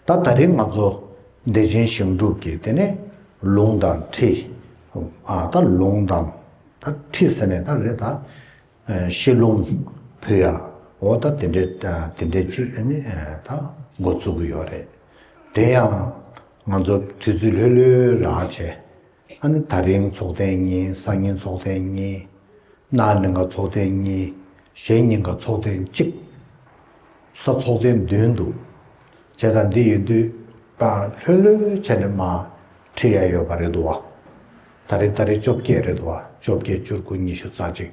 ད་ད་རེས་ང་ཚོ་བདེ་ཆེན་ཞིང་ཕྲུག་གིས་དེ་ནས་ལུང་དང་ཁྲི། ད་ལུང་དང་ད་ཁྲི་ཟེར་ནས་ད་རེས་ད་ཤེས་ལུང་ཕུལ་ཡ་འོ་ད་དེ་འདྲའི་དེ་འདྲའི་ཆུ་ཨེ་ནི་ད་འགོ་བཙུགས་ཀྱི་ཡོད་རེད། དེ་ཡང་ང་ཚོ་དུས་ཚོད་ལྷོད་ལྷོད་རག་བྱས། ལྷ་ནི་ད་རིང་ཚོགས་ལྡན་གཉིས་སང་ཉིན་ཚོགས་ལྡན་གཉིས། གནའ་ནི་འགའ་ཚོགས་ལྡན་གཉིས་གཞན་ཉིན་འགའ་ཚོགས་ལྡན་གཅིག། ས་ཚོགས་ལྡན་བདུན་འདུག། བྱས་ཙང་འདི་ཡོད་དུས་ཀྱང་ལྷོད་ལྷོད་བྱས་ནས་མ་ཁྲིད་ཡ་ཡོད་པ་རེད་འདུག་བ། ད་རེས་ད་རེས་བཅོ་བརྒྱད་རེད་འདུག་བ་བཅོ་བརྒྱད་བཅུ་དགུ་ཉི་ཤུ་རྩ་གཅིག།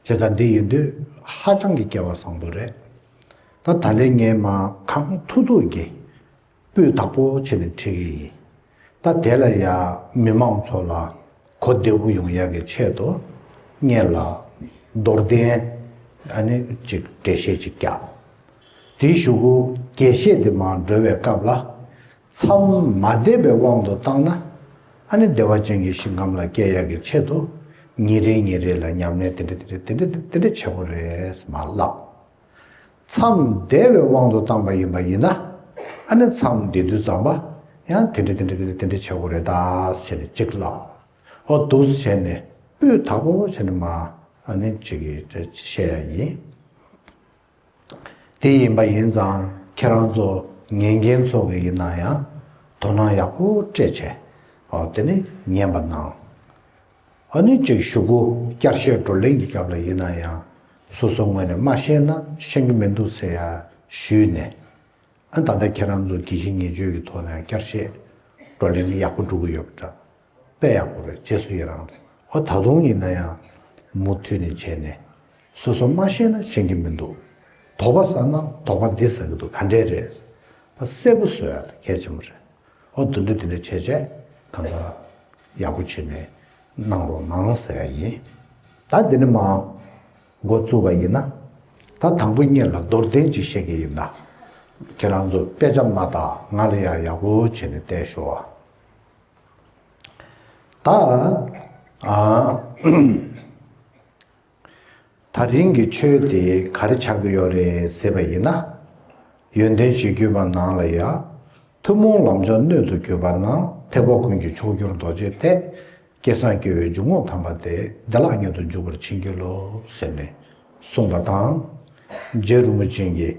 བྱས་ཙང་འདི་ཡོད་དུས་ཧ་ཅང་གི་སྐལ་བ་བཟང་པོ་རེད། ད་ད་ལེ་ངའི་མ་གངས་ཐུག་ཐུག་གི། སྤུས་དག་པོ་བྱས་ནས་འཁྲིད་ཀྱི་ཡིན། ད་དེ་ལ་ཡང་མི་མང་ཚོ་ལ་གོ་བདེ་བོ་ཡོང་ཡག་གི་ཆེད་དུ་བརྙན་ལ་རྡོར་གདན་ཨནི་ཅིག་འགྲེལ་བཤད་ཅིག་རྒྱག་དེའི་ཞུ་གུ་རྒྱས་བཤད་དེ་མང་སྒྲོལ་བའི་སྐབས་ལ་མཚམས་མ་འདེབས་པའི་དབང་དུ་བཏང་ན་ཨནི་བདེ་བ་ཅན་གྱི་ཞིང་ཁམས་ལ་སྐྱེལ་ཡག་གི་ཆེད་དུ་ཉིན་རེ་ཉིན་རེ་ལ་ཉམས་ལེན་དེ་འདྲ་དེ་འདྲ་དེ་འདྲ་དེ་འདྲ་བྱེད་པོ་རེད་མ་ལགས། མཚམས་བདེ་བའི་དབང་དུ་བཏང་པ་ཡིན་པ་ཡིན་ན། ཨ་ནི་མཚམས་བདེ་དུས་ཙམ་པ་ཡང་དེ་འདྲ་དེ་འདྲ་དེ་འདྲ་བྱེད་དགོས་རེད་དཱ་ཟེར་ནས་ཅིག་བསླབ་ཨོ་འདུག་བྱས་ནས་སྤུས་དག་པོ་བྱས་ནས་མ་ཨ་ནི་ཅིག་བཤད་ཡ་ཡིན། དེ་ཡིན་པ་ཡིན་ཙང་ཁྱེད་རང་ཚོ་ཉན་མཁན་ཚོ་གི་ཡིན་ན་ཡང་དོ་སྣང་ཡག་པོ་སྤྲད་བྱས་ཨོ་དེ་ནས་ཉན་པ་གནང། ཨ་ནུ་ཅིག་ཞུ་གོ་བསྐྱར་བཤད་བགྲོ་གླེང་གི་སྐབས་ལ་ཡིན་ན་ཡང་སོ་སོའི་ངོས་ནས་མ་ཤེས་ན་ཤེས་ཀྱི་མི་འདུག་ཟེར་ཡ་ཞུས་ནས། ཨ་ད་ལྟ་ཁྱེད་རང་ཚོ་དགེ་བཤེས་ངེས་བརྗོད་ཀྱི་ཐོག་ནས་བསྐྱར་བཤད་བགྲོ་གླེང་ཡག་པོ་འགྲོ་གི་ཡོད་པ་འདྲ། དཔེ་ཡག་པོ་རེད་རྗེས་སུ་ཡི་རང་རེད་ཨོ་ད་དུང་ཡིན་ན་ཡང་མུ་མཐུད་ནས་བྱས་ནས། སོ་སོ་མ་ཤེས་ན་ཤེས་ཀྱི་མི་འདུག་དོགས་པ་ཟ་ན་དོགས་པ་འདི་ཟ་གི་འདུག་ག་འདྲས་རེད། གསལ་པོ་བཟོ་ཡ་ད་གལ་ཆེན་པོ་རེད། ཨོ་དོན་དུ་དེ་འདྲ་བྱས་བྱས་གང་ལྟར་ཡག་པོ་བྱེད་ནས་གནང་རོགས་གནང་ཟེར་ཡ་ཡིན། ད་འདི་ནས་མ་འགོ་བཙུགས་པ་ཡིན་ན་ད་དང་པོ་གཉིས་ལ་རྡོར་གདན་གཅིག་བཤད་ཀྱི་ཡིན་ད་ཁྱེད་རང་ཚོ་དཔེ་ཆ་མ་དག་ང་ལ་ཡག་ཡག་པོ་བྱེད་ནས་བལྟས་ཤོག་ཨ། ད། ད་རིང་གི་ཆོས་དེ་ག་རེ་ཆགས་ཀྱི་ཡོད་རེད་ཟེར་བ་ཡིན་ན། ཡོན་ཏན་བཞི་བརྒྱུད་པ་ནང་ལ་ཡ། ཐུན་མོང་ལམ་མཆོག་སྣོད་དུ་གྱུར་པ་ན་ཐེག་པ་ཀུན་གྱི་མཆོག་གྱུར་རྡོ་རྗེ་སྟེ། སྐལ་བཟང་སྐྱེ་བོའི་འཇུག་ངོགས་དམ་པ་དེ་བདེ་བླག་ཉིད་དུ་འཇུག་པར་ཕྱིན་གྱི་ལོ་ཟེར་ནས་གསུངས་པ་དང། རྗེ་རིན་པོ་ཆེན་གྱིས།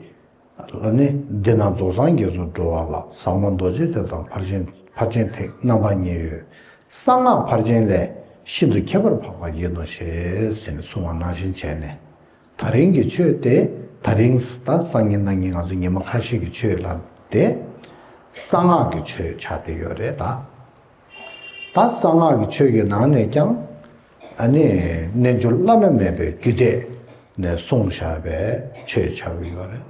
ལ་ནི་འདི་ན་རྫོགས་སངས་རྒྱས་སུ་འགྲོ་བ་ལ་ཟབ་མོ་རྡོ་རྗེ་ཐེག་དང་ཕར་ཕྱིན་ཕར་ཕྱིན་ཐེག་རྣམ་པ་གཉིས་ཡོད། གསང་སྔགས་ཕར་ཕྱིན་ལས་ཤིན་ཏུ་ཁྱད་པར་འཕགས་པ་ཡིན་ནོ་ཞེས་ཟིན་གསུང་བ་ནང་བཞིན་བྱས་ནས། ད་རིང་གི་ཆོས་དེ་ད་རིང་ད་སང་ཉིན་གནང་ཉིན་ང་ཚོ་ཉིན་མོ་ཁ་ཤས་ཀྱི་ཆོས་ལ་དེ་གསང་སྔགས་ཀྱི་ཆོས་བྱ་དེ་ཡོད་རེད་ད། ད་གསང་སྔགས་ཀྱི་ཆོས་ཀྱི་ནང་ནས་ཀྱང། རྣལ་འབྱོར་བླ་ན་མེད་པའི་རྒྱུད་སྡེ་ནས་གསུངས་བཞག་པའི་ཆོས་བྱ་བ་ཡོད་རེད།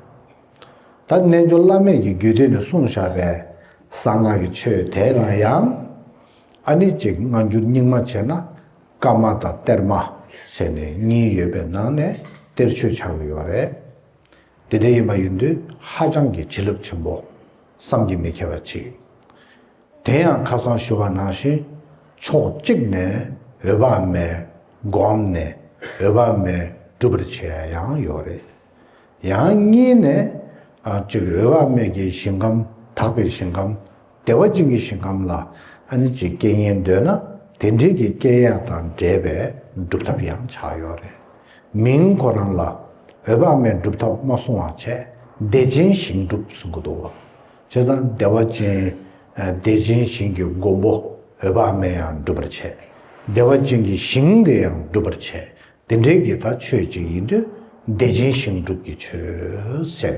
ད་རྣལ་འབྱོར་བླ་མེད་ཀྱི་རྒྱུད་སྡེ་ནས་གསུངས་བཞག་པའི་གསང་སྔགས་ཀྱི་ཆོས་དེ་ལ་ཡང། ཨ་ནི་གཅིག་སྔ་འགྱུར་རྙིང་མ་བྱས་ན་བཀའ་མ་དང་གཏེར་མ་ཟེར་ནས་གཉིས་ཡོད་པའི་ནང་ནས་གཏེར་ཆོས་བྱ་བ་ཡོད་རེད། དེ་འདྲ་ཡིན་པ་ཡིན་དུས་ཧ་ཅང་གི་བྱིན་རླབས་ཆེན་པོ་བསམ་གྱིས་མི་ཁྱབ་པ་མཆིས། དེ་ཡང་ཁ་སང་ཞུ་བ་ནང་བཞིན་ཕྱོགས་གཅིག་ནས་འོས་པ་མེད་སྒོམ་ནས་འོས་པ་མེད་སྒྲུབ་པར་བྱས་ཡང་ཡོད་རེད། ཡང་གཉིས་ནས་གཅིག་འོས་པ་མེད་ཀྱི་ཞིང་ཁམས་དག་པའི་ཞིང་ཁམས་བདེ་བ་ཅན་གྱི་ཞིང་ཁམས་ལ་ཨ་ནི་གཅིག་སྐད་ཉན་འདོད་ན་དེ་འབྲེལ་གྱི་སྐད་ཡ་དང་འདྲེས་པའི་སྒྲུབ་ཐབས་ཡང་ཆགས་ཡོད་རེད། མིང་ཁོ་རང་ལ་འོས་པ་མེད་སྒྲུབ་ཐབས་མ་གསུང་བ་བྱས་བདེ་ཆེན་ཞིང་སྒྲུབ་གསུང་གི་འདུག་བ། བྱས་ཙང་བདེ་བ་ཅན། བདེ་ཆེན་ཞིང་གི་མགོན་པོ་འོད་དཔག་མེད་ཡང་སྒྲུབ་པར་བྱེད། བདེ་བ་ཅན་གྱི་ཞིང་འདི་ཡང་སྒྲུབ་པར་བྱེད། དེ་འདྲའི་གེ་ཁ་ཆོས་གཅིག་ཡིན་དུས། བདེ་ཆེན་ཞིང་སྒྲུབ་ཀྱི་ཆོས་ཟེར།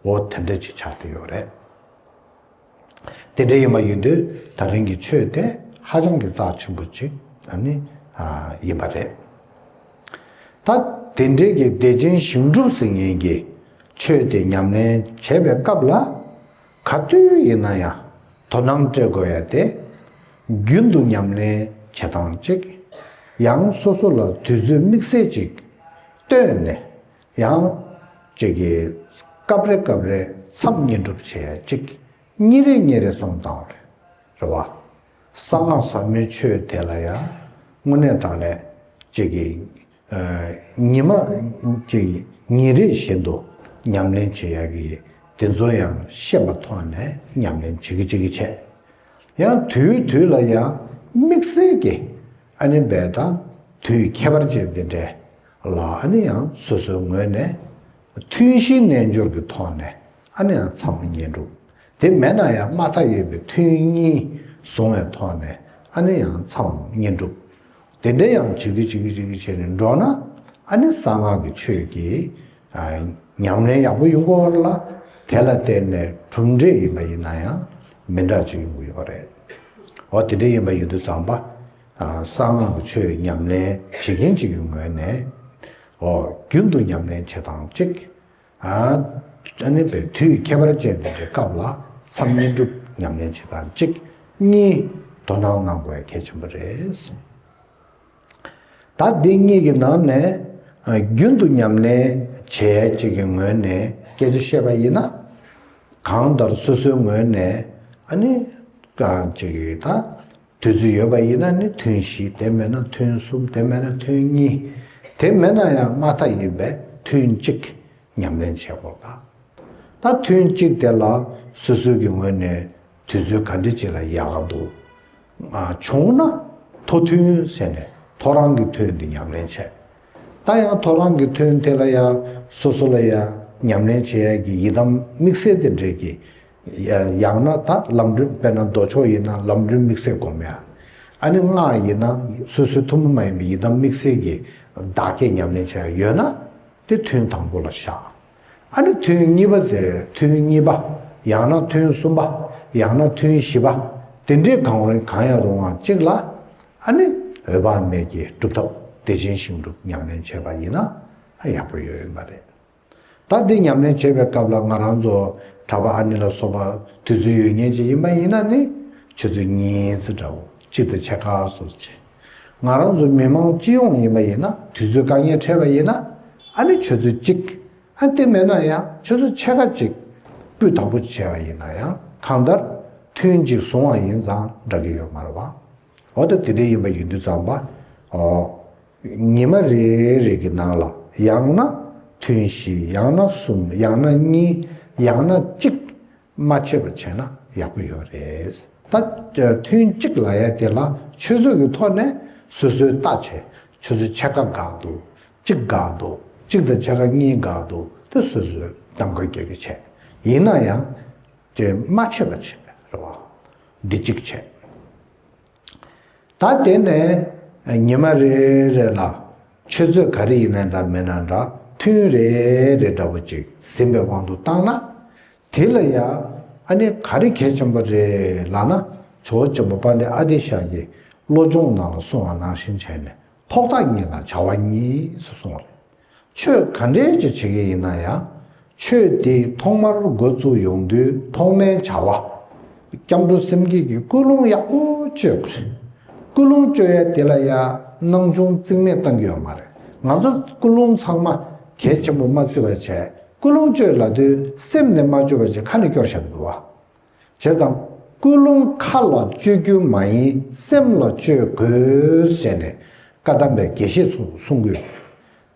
འོ་དེ་འདྲ་ཅིག་ཆགས་དུས་ཡོད་རེད། དེ་འདྲ་ཡིན་པ་ཡིན་དུས་ད་རིང་གི་ཆོས་དེ་ཧ་ཅང་གི་རྩ་ཆེན་པོ་ཅིག་ནི་ཡིན་པ་རེད། ད་དེ་འབྲེལ་གྱི་བདེ་ཆེན་ཞིང་སྒྲུབ་ཟིལ་གནོན་གྱི་ཆོས་དེ་ཉམས་ལེན་བྱེད་པའི་སྐབས་ལ། ག་དུས་ཡིན་ན་ཡང་དོ་སྣང་སྤྲད་དགོས་ཡ་སྟེ། རྒྱུན་དུ་ཉམས་ལེན་བྱེད་སྟངས་གཅིག། ཡང་སོ་སོ་ལ་དུས་ཚོད་དམིགས་བསལ་ཅིག་བཏོན་ནས་ཡང། ཅིག་གིས་སྐབས་རེ་སྐབས་རེ་མཚམས་བསྙེན་སྒྲུབ་བྱེད་ཅིག་གཉིས་རེ་གཉིས་རེ་གསུམ་དང། རེ་བ། གསང་སྔགས་ཟབ་མོའི་ཆོས་དེ་ལ་ཡང་སྔོན་གནས་དང་ལས་ཅིག་གི་ཉི་མ་གཅིག་ཉིན་རེ་བཞིན་དུ་ཉམས་ལེན་བྱེད་ཡག་གི་ཡོད་དེ་ཚོ་ཡང་ཤེས་པ་ཐོག་ནས་ཉམས་ལེན་བྱེད་ཀྱི་བྱེད་ཀྱི་བྱས་ཡང་དུས་དུས་ལ་ཡང་དམིགས་བསལ་གྱི་ཨ་ནི་འབད་དང་དུས་ཁྱད་པར་ཅན་འདི་འདྲའི་ལ་ཨ་ནི་ཡང་སོ་སོའི་ངོས་ནས་མཐུན་ཤིང་རྣལ་འབྱོར་གྱི་ཐོག་ནས། ཨ་ནི་ཡང་མཚམས་མི་ཉན་འགྲོ། དེ་མེད་ན་ཡང་མ་ཐག་ཡོད་པའི་མཐུན་གཉིས་བཟུང་བའི་ཐོག་ནས་ཨ་ནི་ཡང་མཚམས་ཉན་འགྲོ། དེ་འདྲ་ཡང་བྱེད་ཀྱི་བྱེད་ཀྱི་བྱེད་ཀྱི་བྱས་ནས་འགྲོ་ན་ཨ་ནི་གསང་སྔགས་ཀྱི་ཆོས་ཀྱི་ཉམས་ལེན་ཡག་པོ་ཡོང་གི་འོག་ལ་དེ་ལ་བརྟེན་ནས་གྲུབ་འབྲས་ཡིན་པ་ཡིན་ན་ཡང་མི་འདྲ་ཅིག་ཡོང་གི་ཡོད་རེད། འོ་དེ་འདྲ་ཡིན་པ་ཡོད་དུས་བཟང་པ་གསང་སྔགས་ཀྱི་ཆོས་ཉམས་ལེན་བྱེད་མཁན་གཅིག་གི་ངོས་ནས་རྒྱུན་དུ་ཉམས་ལེན་བྱེད་སྟངས་གཅིག་ཨ་ནི་བའི་དུས་ཁྱད་པར་ཅན་འདི་འདྲའི་སྐབས་ལ་མཚམས་བསྙེན་སྒྲུབ་ཉམས་ལེན་བྱེད་སྟངས་གཅིག་གཉིས་དོ་སྣང་གནང་དགོས་གལ་ཆེན་པོ་རེད། ད་འདི་གཉིས་ཀྱི་ནང་ནས་རྒྱུན་དུ་ཉམས་ལེན་བྱེད་ཡས་གཅིག་གི་ངོས་ནས་སྐད་ཆ་བཤད་པ་ཡིན་ན། གང་ལྟར་སོ་སོའི་ངོས་ནས་ཨ་ནི། དུས་ཚོད་ཡོད་པ་ཡིན་ན་ནི་ཐུན་བཞི་དེ་མེད་ན་ཐུན་གསུམ་དེ་མེད་ན་ཐུན་གཉིས་དེ་མེད་ན་ཡང་མ་མཐའ་ཡིན་པས་ཐུན་གཅིག་ཉམས་ལེན་བྱེད་དགོས་ལ། ད་ཐུན་གཅིག་དེ་ལ་སོ་སོའི་གི་ངོས་ནས་དུས་ཚོད་ག་འདྲི་བྱེད་ལ་ཡག་ག་འདུག་བྱུང་ན་ཐོ་ཐུན་ཟེར་ནས་ཐོ་རང་གི་ཐུན་དེ་ཉམས་ལེན་བྱས། ད་ཡང་ཐོ་རང་གི་ཐུན་དེ་ལ་ཡང་སོ་སོ་ལ་ཡང་ཉམས་ལེན་བྱེད་ཡག་གི་ཡི་དམ་དམིགས་བསལ་དེ་འདྲས་ཀྱི་ཡང་ན་ད་ལམ་སྒྲོན་དཔེར་ན་མདོ་ཕྱོགས་ཡིན་ན་ལམ་སྒྲོན་དམིགས་བསལ་སྒོམ་ཡ། ཨ་ནི་སྔགས་ཡིན་ན་སོ་སོའི་ཐུན་མོང་མ་ཡིན་པའི་ཡི་དམ་དམིགས་བསལ་གྱི་བདག་བསྐྱེད་ཉམས་ལེན་བྱ་ཡ་ཡོད་ན་དེ་ཐུན་དང་པོ་ལ་བཞག། ཨ་ནི་ཐུན་གཉིས་པ་དེར་ཐུན་གཉིས་པ་ཡང་ན་ཐུན་གསུམ་པ་ཡང་ན་ཐུན་བཞི་པ་དེ་འདྲའི་གང་རུང་གང་ཡང་རུང་བ་གཅིག་ལ་ཨ་ནི་འོད་དཔག་མེད་ཀྱི་སྒྲུབ་ཐབས་བདེ་ཆེན་ཞིང་སྒྲུབ་ཉམས་ལེན་བྱས་པ་ཡིན་ན་ཡག་པོ་ཡོད་ཡོད་མ་རེད། ད་འདི་ཉམས་ལེན་བྱེད་པའི་སྐབས་ལ་ང་རང་ཚོ་གྲྭ་པ་ཨ་ནེ་ལ་སོགས་པ་དུས་ཚོད་ཡོད་ཉེན་ཅིག་ཡིན་པ་ཡིན་ན་ནི་ཁྱེད་ཚོས་གཉིས་ཚེ་འདྲ་བོ་གཅིག་ཏུ་ཆེ་ཁག་སོགས་བྱེད། ང་རང་ཚོ་མི་མང་སྤྱི་ཡོངས་ཡིན་པ་ཡིན་ན་དུས་ཚོད་དཀའ་ངལ་འཕྲད་པ་ཡིན་ན་ཨ་ནེ་ཁྱོད་ཚོས་གཅིག་ཨ་དེ་མེད་ན་ཡང་ཁྱོད་ཚོ་ཆེ་ཁག་གཅིག་སྤུས་དག་པོ་བྱས་པ་ཡིན་ན་ཡང་གང་ལྟར་ཐུན་གཅིག་བཟུང་བ་ཡིན་ཙང་འདྲ་གི་ཡོད་མ་རེད་པ། འོ་ད་དེ་འདྲ་ཡིན་པ་ཡིན་དུས་ཙམ་པ་འོ། ཉི་མ་རེ་རེ་གི་ནང་ལ་ཡང་ན་ཐུན་བཞི་ཡང་ན་གསུམ་ཡང་ན་གཉིས་ཡང་ན་གཅིག་མ་ཆད་པ་བྱས་ན་ཡག་པོ་ཡོད་རེད། ད་ཐུན་གཅིག་ལ་ཡང་དེ་ལ་ཆོས་ཟོས་ཀྱི་ཐོག་ནས་སོ་སོའི་རྟགས་བྱས་ཆོས་ཟོས་ཕྱེད་ཀ་འགག་འདུག་གཅིག་འགག་འདུག་གཅིག་དང་ཕྱེད་ཀ་གཉིས་འགག་འདུག་དེ་སོ་སོས་རྒྱང་བཀོད་རྒྱག་རྒྱུ་བྱས་ཡིན་ན་ཡང། དེ་མ་བྱས་པ་བྱེད་པའི་རེ་བ་འདི་གཅིག་བྱས། ད་དེ་ནས་ཉི་མ་རེ་རེ་ལ་ཆུ་ཚོད་ག་རེ་ཡིན་ན་འདྲ་མིན་ན་འདྲ་ཐུན་རེ་རེ་འདྲ་བོ་ཅིག་ཟིན་པའི་དབང་དུ་བཏང་ན། དེ་ལ་ཡང་ཨ་ནི་ག་རེ་གལ་ཆེན་པོ་རེད་ལགས་ན་ཇོ་བོ་ཆེན་པོ་པཱ་ལི་ཨ་ཏི་ཤཱཀ་གི་བློ་སྦྱོང་ནང་ལ་གསུངས་བ་ནང་བཞིན་བྱས་ནས་ཐོག་ཐག་ཉིད་ལ་བྱ་བ་གཉིས་སུ་སོང་རེད། ཆོས་ག་འདྲས་ཀྱི་བྱེད་ཀྱི་ཡིན་ན་ཡང། ཆོས་དེའི་ཐོག་མར་འགོ་བཙུགས་ཡོང་དུས་ཐོག་མའི་བྱ་བ། སྐྱབས་འགྲོ་སེམས་བསྐྱེད་ཀྱི་སྐུལ་སློང་ཡག་པོ་བཅོས་པ་རེད། སྐུལ་སློང་བཅོས་ཡས་དེ་ལ་ཡང་སྣང་ཆུང་རྩིག་མེད་གཏང་གི་ཡོད་མ་རེད། ང་ཚོ་སྐུལ་སློང་ཚང་མ་གལ་ཆེན་པོ་མ་བརྩི་བར་བྱས་སྐུལ་སློང་བཅོས་ལ་དུས་སེམས་ནས་མ་བཅོས་པ་ཅིག་ཁ་ནས་སྐྱོར་བཞག་གི་འདུག་བ། བྱས་ཙང། ཀུན་སློང་ཁ་ལ་སྤྱོད་རྒྱུ་མ་ཡིན་སེམས་ལ་སྤྱོད་དགོས་ཞེས་ནས་བཀའ་གདམས་པའི་དགེ་བཤེས་ཚོར་གསུང་གི་ཡོད།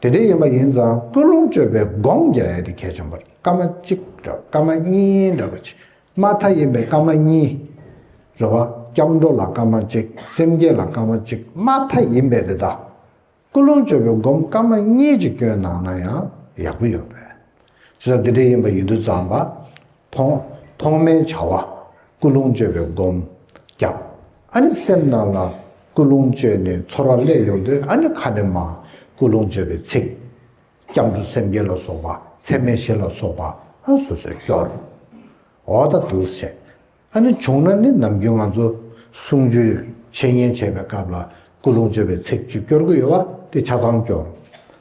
དེ་འདྲའི་ཡོད་པ་ཡིན་ཙང་ཀུན་སློང་སྤྱོད་པའི་སྒོང་རྒྱག་ཡ་དེ་གལ་ཆེན་པོ་རེད་སྐར་མ་གཅིག་འདྲ་བ་སྐར་མ་གཉིས་འདྲ་བ་ཕྱི་མ་མཐའ་ཡིན་པའི་སྐར་མ་གཉིས། རེད་བ། སྐྱབས་འགྲོ་ལ་སྐར་མ་གཅིག་སེམས་བསྐྱེད་ལ་སྐར་མ་གཅིག་མ་མཐའ་ཡིན་པས་རེད་ད། སྐུ་རླུང་སྤྱོད་པའི་སྒོམ་སྐབས་མ་གཉིས་ཀྱི་སྐྱོན་གནང་ན་ཡང་ཡག་པོ་ཡོད་པས། ཅི་ལྟར་འདི་འདྲ་ཡིན་པ་ཡིན་དུ་བརྩམས་པ། ཐོག་ཐོག་མའི་བྱ་བ་སྐུ་རླུང་སྤྱོད་པའི་སྒོམ་སྐབས་ཨ་ནི་སེམས་ནང་ལ་སྐུ་རླུང་སྤྱོད་ནས་ཚོར་བ་སླད་ཡོང་དུས་ཨ་ནི་ཁ་ནས་མ་སྐུ་རླུང་སྤྱོད་པའི་ཚིག། སྐྱབས་འགྲོ་སེམས་བསྐྱེད་ལ་སོགས་པ་ཚད་མེད་བཞི་ལ་སོགས་པ་སོ་སོས་སྐྱོར། འོ་ད་དུས་བྱས། ཨ་ནི་བྱུང་ན་ནི་ནམ་རྒྱུན་ང་ཚོ་གསུང་ཆོས་འཆད་ཉན་བྱེད་པའི་སྐབས་ལ་སྐུ་རླུང་བཅོས་པའི་ཚིག་གཅིག་སྐྱོར་གི་ཡོད་བ་དེ་ཆ་ཚང་སྐྱོར།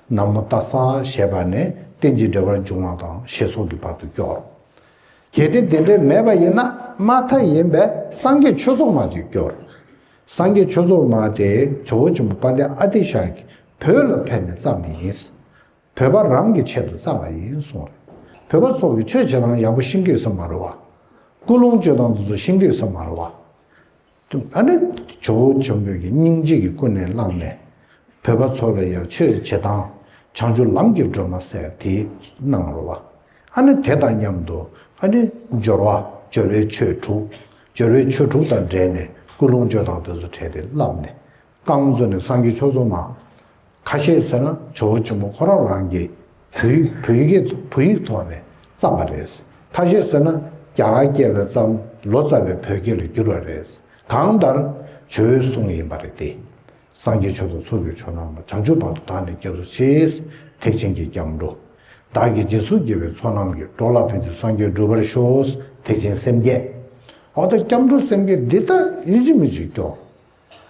ན་མོ་ཏཱ་ས་ཞེས་པ་ནས་རྟེན་ཅིང་འབྲེལ་བར་འབྱུང་བ་དང་ཞེས་སོགས་ཀྱི་བར་དུ་སྐྱོར། གལ་ཏེ་དེ་འདྲའི་མེད་པ་ཡིན་ན་མ་མཐའ་ཡིན་པས་སངས་རྒྱས་ཆོས་ཚོགས་མ་དེ་སྐྱོར། སངས་རྒྱས་ཆོས་ཚོགས་མ་དེ་ཇོ་བོ་ཆེན་པོ་དཔལ་ལྡན་ཨ་ཏི་ཤ་ཡི་བུ་ལ་ཕན་ནི་ཙམ་ཡིན། བོད་པ་རང་གི་ཆེད་དུ་བཙགས་པ་ཡིན་གསུངས་རེད། བོད་པ་ཚོགས་ཀྱི་ཆོས་བྱེད་སྟངས་ཡག་པོ་ཤིང་གེགས་སུ་མ་རུལ་བ། སྐུ་རླུང་སྤྱོད་སྟངས་དེ་ཚོ་ཤིང་གེགས་སུ་མ་རུལ་བ། ཨ་རེ། ཇོ་བོ་ཇོ་འབོད་ཀྱི་སྙིང་རྗེ་གི་ཀུན་ནས་བསླངས་ནས། བོད་པ་ཚོགས་ལ་ཡག་ཆོས་བྱེད་སྟངས་བྱང་ཆུ་ལམ་གྱི་སྒྲོན་མ་ཟེར་དེ་གནང་རུལ་བ། ཨ་ནི་དེ་དང་མཉམ་དུ་ཨ་རེ། སྦྱོར་བ་སྦྱོར་བའི་ཆོས་དྲུག། སྦྱོར་བའི་ཆོས་དྲུག་དང་འབྲེལ་ནས་སྐུ་རླུང་སྤྱོད་སྟངས་དེ་ཚོ་བྲལ་ཏེ་བསླབས་ནས། བཀའ་མོ་གཙོ་ནས་སངས་རྒྱས་ཆོས་གཙོ་མ། ཁ་ཤས་ཟེར་ན་ཇོ་བོ་ཆེན་པོ་ཁོ་རང་རང་གི་བུ་ཡིག་ཐོག་ནས་བརྩམས་པ་རེད། ཁ་ཤས་ཟེར་ན་རྒྱ་གར་སྐད་ལས་བརྩམས་ལོ་ཙཱ་བའི་བོད་སྐད་ལ་བསྒྱུར་བ་རེད། གང་ལྟར་ཇོ་བོའི་གསུང་ཡིན་པ་རེད་དེ། སངས་རྒྱས་ཆོས་དང་ཚོགས་ཀྱི་ཆོས་རྣམས་ལ་བྱང་ཆུབ་བར་དུ་དག་ནས་སྐྱབས་སུ་མཆིས། ཐེག་ཆེན་གྱི་སྐྱབས་འགྲོ། བདག་གི་རྗེས་སུ་དགེ་བའི་ཚོགས་རྣམས་ཀྱིས་འགྲོ་ལ་ཕན་ཚུན་སངས་རྒྱས་འགྲུབ་པར་ཤོག། ཐེག་ཆེན་སེམས་བསྐྱེད། འོ་ད་སྐྱབས་འགྲོ་སེམས་བསྐྱེད་འདི་ལྟ་ཡིན་གཅིག་མིན་གཅིག་སྐྱོ།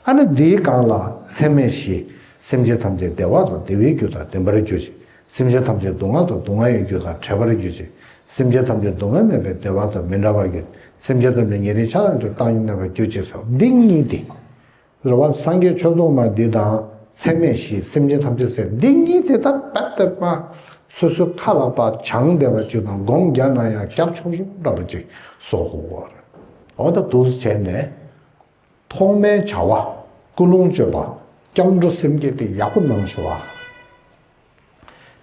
ཨ་ནི་འདིའི་སྒང་ལ་ཚད་མེད་བཞི། སེམས་ཅན་ཐམས་ཅད་བདེ་བ་དང་བདེ་བའི་རྒྱུ་དང་ལྡན་པར་གྱུར་ཅིག། སེམས་ཅན་ཐམས་ཅད་སྡུག་བསྔལ་དང་སྡུག་བསྔལ་ཡོད་རྒྱུ་དང་བྲལ་བར་གྱུར་ཅིག། སེམས་ཅན་ཐམས་ཅད་སྡུག་བསྔལ་མེད་པའི་བདེ་བ་དང་མི་འདྲ་བར་གྱུར། སེམས་ཅན་ཐམས་ཅད་ཉེ་རིང་ཆགས་ཡོད་འདིར་བཏང་སྙོམས་མེད་པར་གྱུར་ཅིག་ཟེར་བ་འདི་གཉིས་ཏེ། རེ་བ་སངས་རྒྱས་ཆོས་རྫོགས་མ་འདི་དང་ཚད་མེད་བཞི་སེམས་ཅན་ཐམས་ཅད་ཟེར་འདི་གཉིས་དེ་ལྟར་བར་དོ་པ། སོ་སོའི་མཁའ་ལ་པ་བྱང་བདེ་བ་བཅུ་དང་སྒོམ་བརྒྱ་ན་ཡང་སྐྱབས་མཆོག་གསུམ་འདྲ་པོ་གཅིག་སོགས། འོ་ད་དུག་སེལ་བྱས་ནས། ཐོག་མའི་བྱ་བ་ཀུན་སློང་གཅོད་པ་སྐྱབས་འགྲོ་སེམས་བསྐྱེད་དེ་ཡག་པོ་གནང་ཞུ་བ།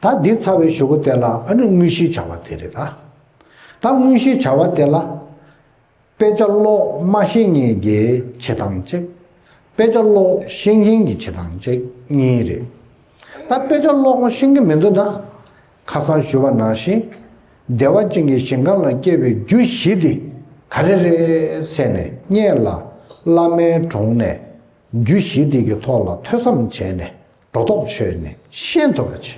ད་འདི་ཚ་བའི་ཞུ་བོ་དེ་ལ་ཨ་ནི་དངོས་གཞིའི་བྱ་བ་དེ་རེད་ད། ད་དངོས་གཞིའི་བྱ་བ་དེ་ལ། དཔེ་ཆ་ཀློག་སྨྲ་ཤེས་ངེས་རྒྱའི་བྱེད་སྟངས་གཅིག། དཔེ་ཆ་ཀློག་ཤེས་མཁན་གྱི་བྱེད་སྟངས་གཅིག་གཉིས་རེད། ད་དཔེ་ཆ་ཀློག་ཤེས་མཁན་མི་འདུག་ན། ཁ་སང་བཞུགས་པ་ནང་བཞིན་བདེ་བ་ཅན་གྱི་ཞིང་ཁམས་ལ་སྐྱེ་བའི་རྒྱུ་བཞི་དེ་ག་རེ་རེད་བསལ་ནས་རྙེད་ལ། བླ་མའི་དྲུང་ནས་རྒྱུ་བཞི་དེ་གི་ཐོག་ལ་ཐོས་བསམ་བྱས་ནས་སྒྲོ་འདོགས་ཆོད་ནས་ཤེས་ཐུབ་པ་བྱས།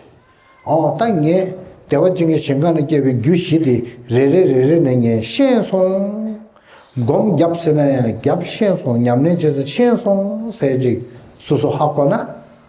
འོ་ད་ངས་བདེ་བ་ཅན་གྱི་ཞིང་ཁམས་ལ་སྐྱེ་བའི་རྒྱུ་བཞི་དེ་རེ་རེ་རེ་རེ་ནས་ངས་ཤེས་སོང། སྒོམ་བརྒྱབ་ཟེར་ན་ཡང་བརྒྱབ་ཤེས་སོང་ཉམས་ལེན་བྱེད་ཟེར་ཤེས་སོང་ཟེར་ཅིག་སུ་སུ་ཧ་གོ་ན།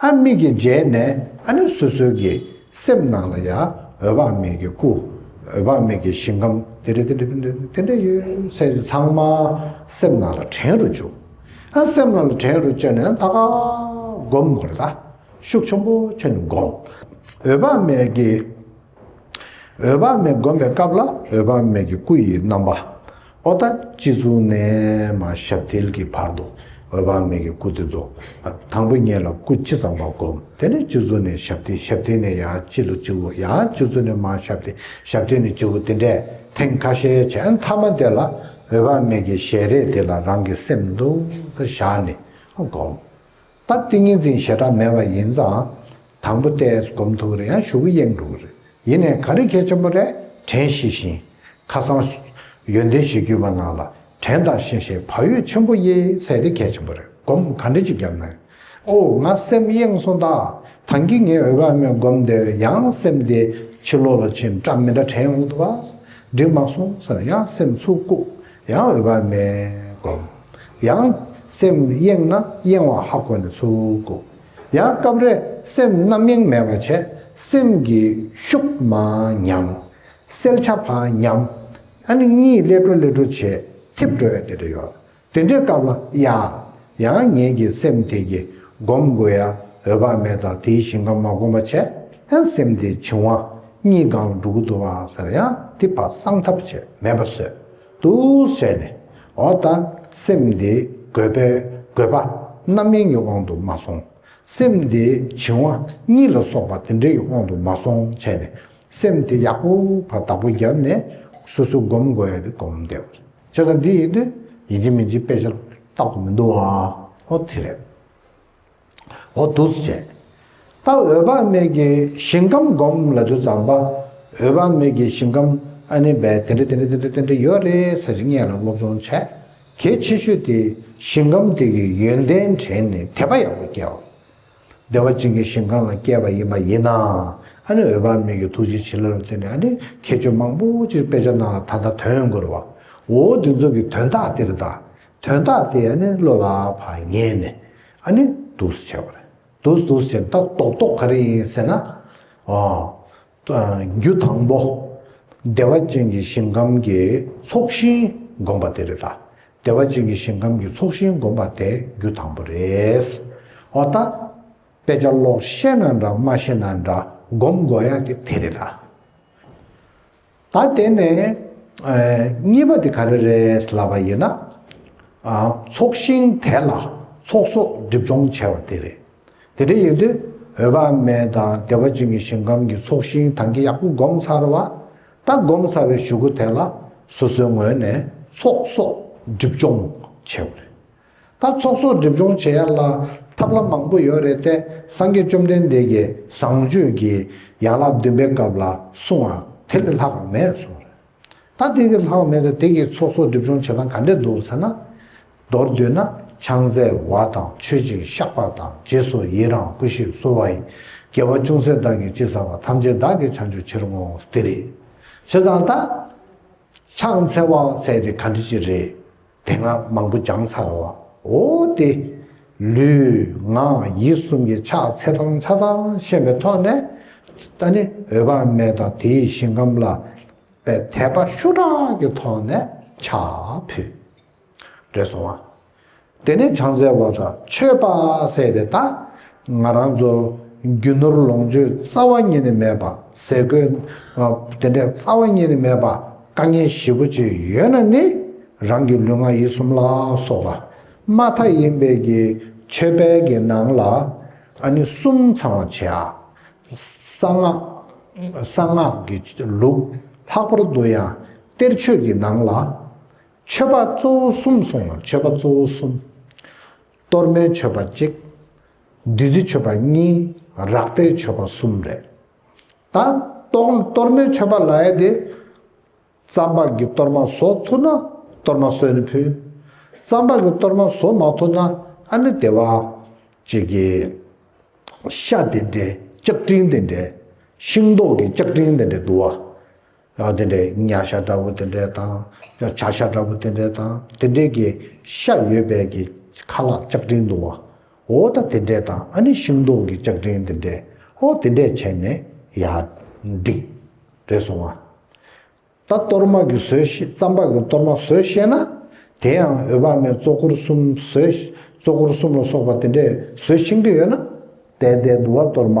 ཨ་མིག་གི་རྗེས་ནས་ཨ་ནུ་སོ་སོའི་གི་སེམས་ནང་ལ་ཡ་འོད་དཔག་མེད་གི་སྐུ། འོད་དཔག་མེད་གི་ཞིང་ཁམས་དེ་འདྲ་དེ་འདྲ་དེ་འདྲ་དེ་འདྲ་ཡོད་ཚད་དེ་ཚང་མ་སེམས་ནང་ལ་དྲན་རུ་བཅུག། ཨ་སེམས་ནང་ལ་དྲན་རུ་བཅུག་ནས་ད་ག་སྒོམ་དགོས་རེད་ད། ཤུགས་ཆེན་པོ་ཆེ་ནས་སྒོམ། འོད་དཔག་མེད་གི་འོད་དཔག་མེད་བསྒོམ་པའི་སྐབས་ལ་འོད་དཔག་མེད་ཀྱི་སྐུ་ཡི་རྣམ་པ། ཨོ་ད་ཅི་གཟུགས་ནས་མ་ཞབས་ཐིལ་གྱི་བར་དུ་འོད་དཔག་མེད་ཀྱི་སྐུ་དེ་རྫོགས། དང་པོ་གཉིས་ལ་སྐུ་ཅི་ཙམ་པ་བསྒོམ་དེ་ནས་ཅི་གཟུགས་ནས་ཞབས་ཐིལ་ཞབས་ཐིལ་ནས་ཡང་ཅི་ལ་ཅི་འོ་ཡང་ཅི་གཟུགས་ནས་མ་ཞབས་ཐིལ་ཞབས་ཐིལ་ནས་ཅི་འོ་དེ་འདྲས་ཐེངས་ཁ་ཤས་བྱས་མཐའ་མ་དེ་ལ་འོད་དཔག་མེད་ཀྱི་ཞལ་རས་དེ་ལ་རང་གི་སེམས་འདུག་བཞག་ནས་བསྒོམ། ད་ཏིང་ངེ་འཛིན་ཞེ་དྲག་མེད་པ་ཡིན་ཙང། དང་པོ་ཏེ་སྒོམ་ཐུག་རེ་ཡང་ཞུགས་གཡེང་འགྲོ་རེ་ཡིན་ནས་ག་རེ་མཁས་ཆེན་པོ་རེ་དྲན་ཤེས་བཞིན། ཁ་སང། ཡོན་ཏན་ཞེས་བརྒྱུད་པ་ནང་ལ་དྲན་དང་ཤེས་ཤེས་བག་ཡོད་ཆེན་པོ་དབྱེ་བསལ་ཏེ་མཁས་ཆེན་པོ་རེ་སྒོམ་ག་འདྲེ་ཅིག་བརྒྱབ་ན། ཨོ་ང་སེམས་གཡེང་སོང་ད། ད་འགི་ངས་འོས་པ་མེད་སྒོམ་དེ་བས་ཡང་སེམས་དེ་ཕྱི་ལོག་ལ་ཕྱིན་སྐྲ་མི་འདྲ་དྲན་འོང་དུ་བ། འགྲིག་མ་སོང་ཟེར་ཡང་སེམས་ཚུགས་ལྐུགས། ཡང་འོད་དཔག་མེད་བསྒོམ། ཡང། སེམས་གཡེངས་ན་གཡེང་བ་ཧ་གོ་ནས་ཚུར་བཀུག། ཡང་སྐབས་རེ་སེམས་རྣམ་གཡེང་མེད་པར་བྱས། སེམས་ཀྱི་ཤུགས་མང་ཉམས། སེལ་བྱ་བག་ཉམས། ཨ་ནི་གཉིད་སླེ་འགྲོ་སླེ་འགྲོ་བྱེད། འཐིབ་འགྲོ་བའི་དེ་འདྲ་ཡོད། དེ་འདྲའི་སྐབས་ལ་ཡང། ཡང་ངེད་ཀྱི་སེམས་དེ་ཀྱིས་སྒོམ་དགོས་ཡ་འོས་བག་མེད་དང་དེའི་ཞིང་ཁམས་མ་སྒོམ་པ་བྱས་ཡང་སེམས་དེའི་བྱིང་བ་གཉིས་གང་ལ་འགྲོ་གི་འདུག་བ་ཟེར་ཡང་དེ་བག་གསང་ཐབས་བྱས་མེད་པ་བཟོས་འདུག་བྱས་ནས་འོ་ད་སེམས་དེའི་དགོས་པའི་དགོས་པ་རྣམ་སྨིན་གྱི་དབང་དུ་མ་སོང་སེམས་དེའི་བྱིང་བ་གཉིས་ལ་སོགས་པ་དེ་འདྲ་ཡི་དབང་དུ་མ་སོང་བྱས་ནས་སེམས་དེ་ཡག་པོ་བར་བདག་པོ་རྒྱབ་ནས་སོ་སོ་སྒོམ་དགོས་ཡ་དེ་སྒོམ་བསྡད། བྱེད་ས་འདི་ཡིན་ཏེ་ཡིན་གྱི་མིན་གྱི་དཔེ་ཆ་རྟག་ཏུ་མི་འདུག་ཨ། ཨོ་དེ་རེད། ཨོ་བདུད་རྩི་བཅས། ད་འོད་དཔག་མེད་ཀྱི་ཞིང་ཁམས་བསྒོམ་ལ་དུས་ཙམ་པ། འོད་དཔག་མེད་ཀྱི་ཞིང་ཁམས་ཨ་ནི་བས་དེ་འདྲ་དེ་འདྲ་དེ་འདྲ་དེ་འདྲ་ཡོད་རེད་ཟེར་གྱི་ངེད་ལ་སློབ་སྦྱོང་བྱས། གལ་ཆེ་ཤོས་དེ་ཞིང་ཁམས་དེ་གི་ཡོན་ཏན་དྲན་ནས་དད་པ་ཡག་པོ་སྐྱེ་བ། བདེ་བ་ཅན་གྱི་ཞིང་གང་ལ་སྐྱེས་པ་ཡིན་པ་ཡིན་ན། ཨ་ནི་འོད་དཔག་མེད་ཀྱི་ཐུགས་རྗེ་བྱིན་རླབས་ལ་བརྟེན་ནས་ཨ་ནི་ཁྱད་ཆོས་མང་པོ་ཅིག་དཔེ་ཆ་རྣམས་ལ་ད་ལྟ་དོན་དགོས་བ། འོ་འདི་ཚོ་གི་དོན་དག་དེ་རེད་ད། དོན་དག་དེ་ཨ་ནི་བློ་ལ་བག་ཉལ་ནས་ཨ་ནི་འདུག་སུ་བྱས་པ་རེད། འདུག་སུ་འདུག་སུ་བྱས་ནས་ད་རྟོག་རྟོག་ག་རེ་ཡིན་ཟེར་ན། ཨོ། རྒྱུ་དང་པོ། བདེ་བ་ཅན་གྱི་ཞིང་ཁམས་ཀྱི་ཚོགས་ཞིང་བསྒོམ་པ་དེ་རེད་ལ། བདེ་བ་ཅན་གྱི་ཞིང་ཁམས་ཀྱི་ཚོགས་ཞིང་བསྒོམ་པ་དེ་རྒྱུ་དང་པོ་རེད། འོ་ད། དཔེ་ཆ་ཀློག་ཤེས་ན་འདྲ་མ་ཤེས་ན་འདྲ་བསྒོམ་དགོས་ཡག་དེ་དེ་རེད་ལ། ད་དེ་ནས། གཉིས་པ་དེ་ག་རེ་རེད་ལབ་པ་ཡིན་ན། ཚོགས་ཞིང་དེ་ལ་ཚོགས་གསོག་སྒྲིབ་སྦྱོང་བྱས་པ་དེ་རེད། དེ་འདྲ་ཡོད་དུས་འོད་དཔག་མེད་དང་བདེ་བ་ཅན་གྱི་ཞིང་ཁམས་ཀྱི་ཚོགས་ཞིང་དང་གི་ཡག་པོ་བསྒོམ་ཚར་བ་ད་བསྒོམ་ཚར་བའི་ཞུ་གུ་དེ་ལ་སོ་སོའི་ངོས་ནས་ཚོགས་གསོག་སྒྲིབ་སྦྱོང་བྱས་པ་རེད། ད་ཚོགས་གསོག་སྒྲིབ་སྦྱོང་བྱེད་ཡག་ལ་ཐབས་ལམ་མང་པོ་ཡོད་རེད་དེ་སངས་རྒྱས་བཅོམ་ལྡན་འདས་ཀྱིས་བཟང་སྤྱོད་ཀྱི་ཡན་ལག་བདུན་པའི་སྐབས་ལ་གསུང་བ་དེ་ལས་ལྷག་མེད་གསུང་རེད། ད་དེ་གི་ལྷག་མེད་དུ་དེ་གའི་ཚོགས་གསོག་སྒྲིབ་སྦྱོང་བྱེད་སྟངས་ག་འདྲས་འདུག་ཟེར་ན། མདོར་བསྡུས་ན་ཕྱག་འཚལ་བ་དང་མཆོད་ཅིང་བཤགས་པ་དང་རྗེས་སུ་ཡི་རང་སྐུ་ཞིག་གསོལ་བ་ཡིས་རྒྱལ་བ་ཅུང་ཟད་བདག་གིས་ཅི་བསམ་པ་ཐམས་ཅད་བདག་གིས་བྱ་མཆོད་ཕྱིར་བསྔོ་འོང་དེ་རེད། བྱས་ཙང་ད། ཕྱག་འཚལ་བ་ཟེར་དེ་ག་འདྲི་ཅི་རེད། དེ་སྔ་མང་པོ་སྦྱངས་ཚར་བའོ་སྟེ། ལུས་ངག་ཡིད་གསུམ་གྱི་ཕྱག་འཚལ་དམ་བཅའ་ཚང་ཤེས་པའི་ཐོག་ནས། ད་ནི་འོད་དཔག་མེད་དང་དེའི་ཞིང་ཁམས་ལ་པའི་དད་པ་ཤུགས་དྲག་གི་ཐོག་ནས་ཕྱག་ཕུལ། བགྲོས་སོང་བ། དེ་ནས་བྱང་རྩེ་བ་དང་ཆོས་དཔག་ཚད་པའི་ད་ང་རང་ཚོ་རྒྱུ་ནོར་ལོངས་སྤྱོད་རྩ་བ་ཉིད་ནས་མེད་པ་ཟས་གོས་དེ་འདྲས་རྩ་བ་ཉིད་ནས་མེད་པ་དཀའ་ངལ་བཞི་པོ་ཅིག་ཡོད་ན་ནི་རང་གི་ལུས་ངག་ཡིད་གསུམ་ལ་སོགས་པ་དམའ་མཐའ་ཡིན་པས་ཀྱི་ཆོས་དཔལ་གྱི་ནང་ལ་ནི་གསུམ་ཚང་བར་བྱས་ཨ། གསང་སྔགས་གསང་སྔགས་ཀྱི་ལུགས་ལྷག་པར་དུ་ཡང་གཏེར་ཆོས་ཀྱི་ནང་ལ། མཆོད་པ་གཙོ་བོ་གསུམ་གསུངས་ལ་མཆོད་པ་གཙོ་བོ་གསུམ། གཏོར་མའི་མཆོད་པ་གཅིག། བདུད་རྩི་མཆོད་པ་གཉིས་རག་པའི་མཆོད་པ་གསུམ་རེ། ད་གཏོར་མའི་མཆོད་པ་ལའེ་དེ། ཙམ་པ་གི་གཏོར་མ་བཟོ་ཐུབ་ན་གཏོར་མ་གསོལ་ནས་ཕུལ། ཙམ་པ་གི་གཏོར་མ་བཟོ་མ་ཐུབ་ན་ཨ་ནི་དེ་བ། ཅེས་བགྱི། ཤ་དེ་འདྲའི་ལྕགས་ཀྲིང་དེ་འདྲའི། ཤིང་ཏོག་གི་ལྕགས་ཀྲིང་དེ་འདྲའི་དུ་བ། ལག་དེ་འདྲའི་གཉའ་ཤ་འདྲ་བོ་དེ་འདྲའི་དང། བྱ་ཤ་འདྲ་བོ་དེ་འདྲའི་དང། དེ་འདྲའི་གི་ཤ་ཡོད་པའི་གི་ཁ་ལག་ལྕགས་ཀྲིན་བརྡུང་བ། འོ་ད་དེ་འདྲའི་དང་ཨ་ནི་ཤིང་སྡོང་གི་ལྕགས་ཀྲིན་དེ་འདྲའི་ཨོ་དེ་འདྲས་བྱས་ནས་ཡ། འགྲིག། རེད་སོང་ང། ད་གཏོར་མ་གི་ཟོས་ཤེས་རྩམ་པ་གི་གཏོར་མ་ཟོས་ཤེས་ན། དེ་ཡང་འོད་དཔག་མེད་གཙོ་འཁོར་གསུམ་ཟོས། གཙོ་འཁོར་གསུམ་ལ་སོགས་པ་དེ་འདྲས་ཟོས་ཤིང་གི་ཡོད་ན། དལ་དལ་བསྡུ་བ་གཏོར་མ།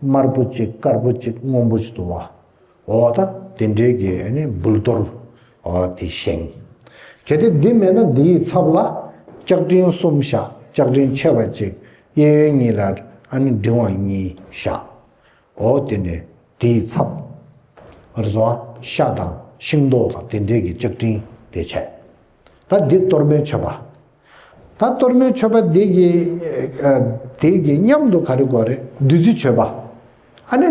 དམར་པོ་གཅིག་དཀར་པོ་གཅིག་སྔོན་པོ་གཅིག་བསྡུ་བ། འོང་བ་དང་དེ་འབྲེལ་གྱི་འབུལ་གཏོར་དེ་བཞེངས། གལ་ཏེ་འདི་མེད་ན་འདི་ཡི་ཚབ་ལ་ལྕགས་ཀྲིན་གསུམ་བཞག་ལྕགས་ཀྲིན་ཆེ་བ་གཅིག་གཡས་གཡོན་གཉིས་ལ་འབྲིང་བ་གཉིས་བཞགའོ། དེ་ནས་དེ་ཡི་ཚབ་རེ་བཟུང་ཤ་དང་ཤིང་ཏོག་དང་དེ་འབྲེལ་གྱི་ལྕགས་ཀྲིན་དེ་བྱས། ད་འདི་གཏོར་མའི་མཆོད་པ། ད་གཏོར་མའི་མཆོད་པ་འདི་གི་དེ་གི་མཉམ་དུ་ག་རེ་དགོས་རེད་བདུད་རྩི་མཆོད་པ་ཨ་ནི་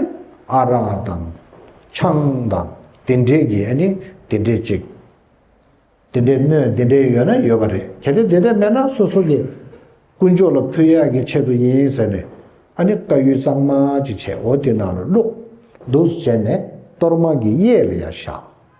ཨ་རག་དང་ཆང་དང་དེ་འདྲས་ཀྱི་ཨ་ནི་དེ་འདྲས་ཅིག་དེ་འདྲས་སྣོད་དེ་འདྲས་ཡོད་ན་ཡོད་པ་རེད་གལ་ཏེ་དེ་འདྲས་མེད་ན་སོ་སོ་གི་དཀོན་མཆོག་ལ་ཕུལ་ཡག་གི་ཆེད་དུ་ཡིན་ཟེར་ནས་ཨ་ནི་བཀའ་ཡུལ་གཙང་མ་ཅིག་བྱས་འོ་དེ་ནང་ལ་བླུགས་བདུགས་སུ་བྱས་ནས་གཏོར་མ་གི་གཡས་ལ་ཡར་བཞག།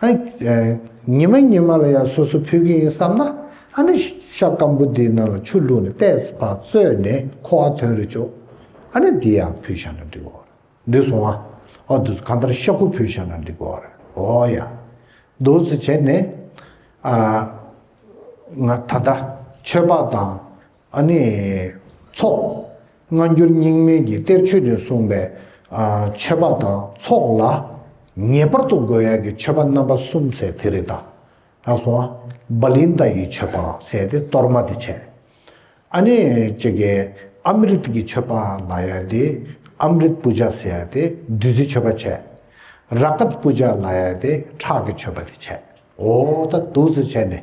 ཉི་མ་ཉི་མ་ལ་ཡང་སོ་སོ་ཕུལ་གྱི་ཡིན་བསམ་ན། ཨ་ནི་ཤ་སྐམ་པོ་འདིའི་ནང་ལ་ཆུ་བླུགས་ནས་བལྟས་པ་བཙོས་ནས་ཁོ་བ་དོན་རེ་བྱོས། ཨ་ནི་འདི་ཡང་ཕུལ་བཞག་ན་འགྲིག་གོ། འདི་སོང་ཨ། ཨོ་དུས་གང་ལྟར་ཤ་ཁུ་ཕུལ་བཞག་ན་འགྲིག་གོ། ཨོ་ཡ། དུས་སུ་བྱས་ནས། ང་ད་ལྟ་ཆོས་འབག་དང་ཨ་ནི། ཚོགས། སྔ་འགྱུར་རྙིང་མིན་གྱི་གཏེར་ཆོས་ནས་གསུངས་པའི། མཆོད་པ་དང་ཚོགས་ལ། ངེས་པར་དུ་དགོས་ཡག་གི་མཆོད་པ་རྣམ་པ་གསུམ་ཟེར་དེ་རེད་ད། ལགས་སོ། བ་ལིན་ཏཱ་ཡི་མཆོད་པ་ཟེར་ཏེ་གཏོར་མ་དེ་བྱས། ཨ་ནི། ཅེ་ཀེ། ཨ་མི་རིད་ཀྱི་མཆོད་པ་ལ་ཡ་ཏི། Amrit Puja། ཟེར་ཡ་ཏི་བདུད་རྩི་མཆོད་པ་བྱས། Rakat Puja། ལ་ཡ་ཏི་ཁྲག་གི་མཆོད་པ་དེ་བྱས། འོ། ད་དུག་ཟེར་བྱས་ནས།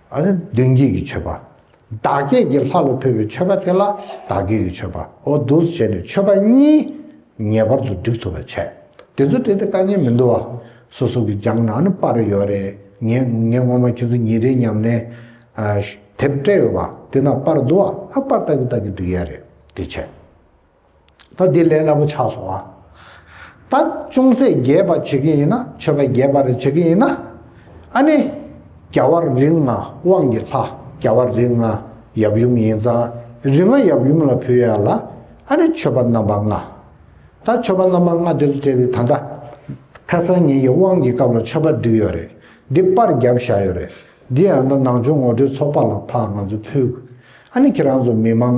མདུན་བསྐྱེད་ཀྱི་མཆོད་པ། བདག་བསྐྱེད་ཀྱི་ལྷ་ལ་ཕུལ་བའི་མཆོད་པ་དེ་ལ་བདག་བསྐྱེད་ཀྱི་མཆོད་པའོ། འདུ་བྱེད་ནི་མཆོད་པ་གཉིས་ངེས་པར་དུ་བསྒྲིག་ཐུབ་པར་བྱས། དེ་ཚོ་བྲིས་ཏེ་དཀའ་ངལ་མི་འདུག་བ། སོ་སོ་གི་རྒྱང་ན་ནི་པར་ཡོད་རེད། ངས་ངས་ངོ་མ་ཁྱེད་ཚོ་ཉིན་རེའི་ཉམས་ལེན། དེབ་སྤྲད་ཡོད་བ། དེ་ན་པར་འདུག་བ། ཨ་པར་ལྟ་གི་ལྟ་གི་འདུག་ཡ་རེད། དེ་བྱས། ད་འདི་ལས་སླ་པོ་ཆགས་སོང་ཨ། ད་ཅུང་ཟད་རྒྱས་པར་བྱེད་ཀྱི་ཡིན་ན་ཆོས་པ་རྒྱས་པར་བྱེད་ཀྱི་ཡིན་ན། ཨ་ནི། རྒྱ་བར་རིགས་ལྔ་དབང་གི་ལྷ་རྒྱ་བར་རིགས་ལྔ་ཡབ་ཡུམ་ཡིན་ཙང་རིགས་ལྔ་ཡབ་ཡུམ་ལ་ཕུལ་ཡ་ལ་ཨ་ནི་ཆོས་པ་རྣམ་པ་ལྔ། ད་ཆོས་པ་རྣམ་པ་ལྔ་དེ་ཚོ་བྱས་ཏེ་ད་ལྟ་ཁ་སང་ཉིན་གྱི་དབང་གི་སྐབས་ལ་ཆོས་པ་བསྡུས་ཡོད་རེད་འདི་པར་བརྒྱབ་བཞག་ཡོད་རེད་འདི་ཡང་ན་ནང་ཆོས་ངོ་སྤྲོད་ཚོགས་པ་ལ་ཕ་ང་ཚོ་ཕུལ། ཨ་ནི་ཁྱེད་རང་ཚོ་མི་མང།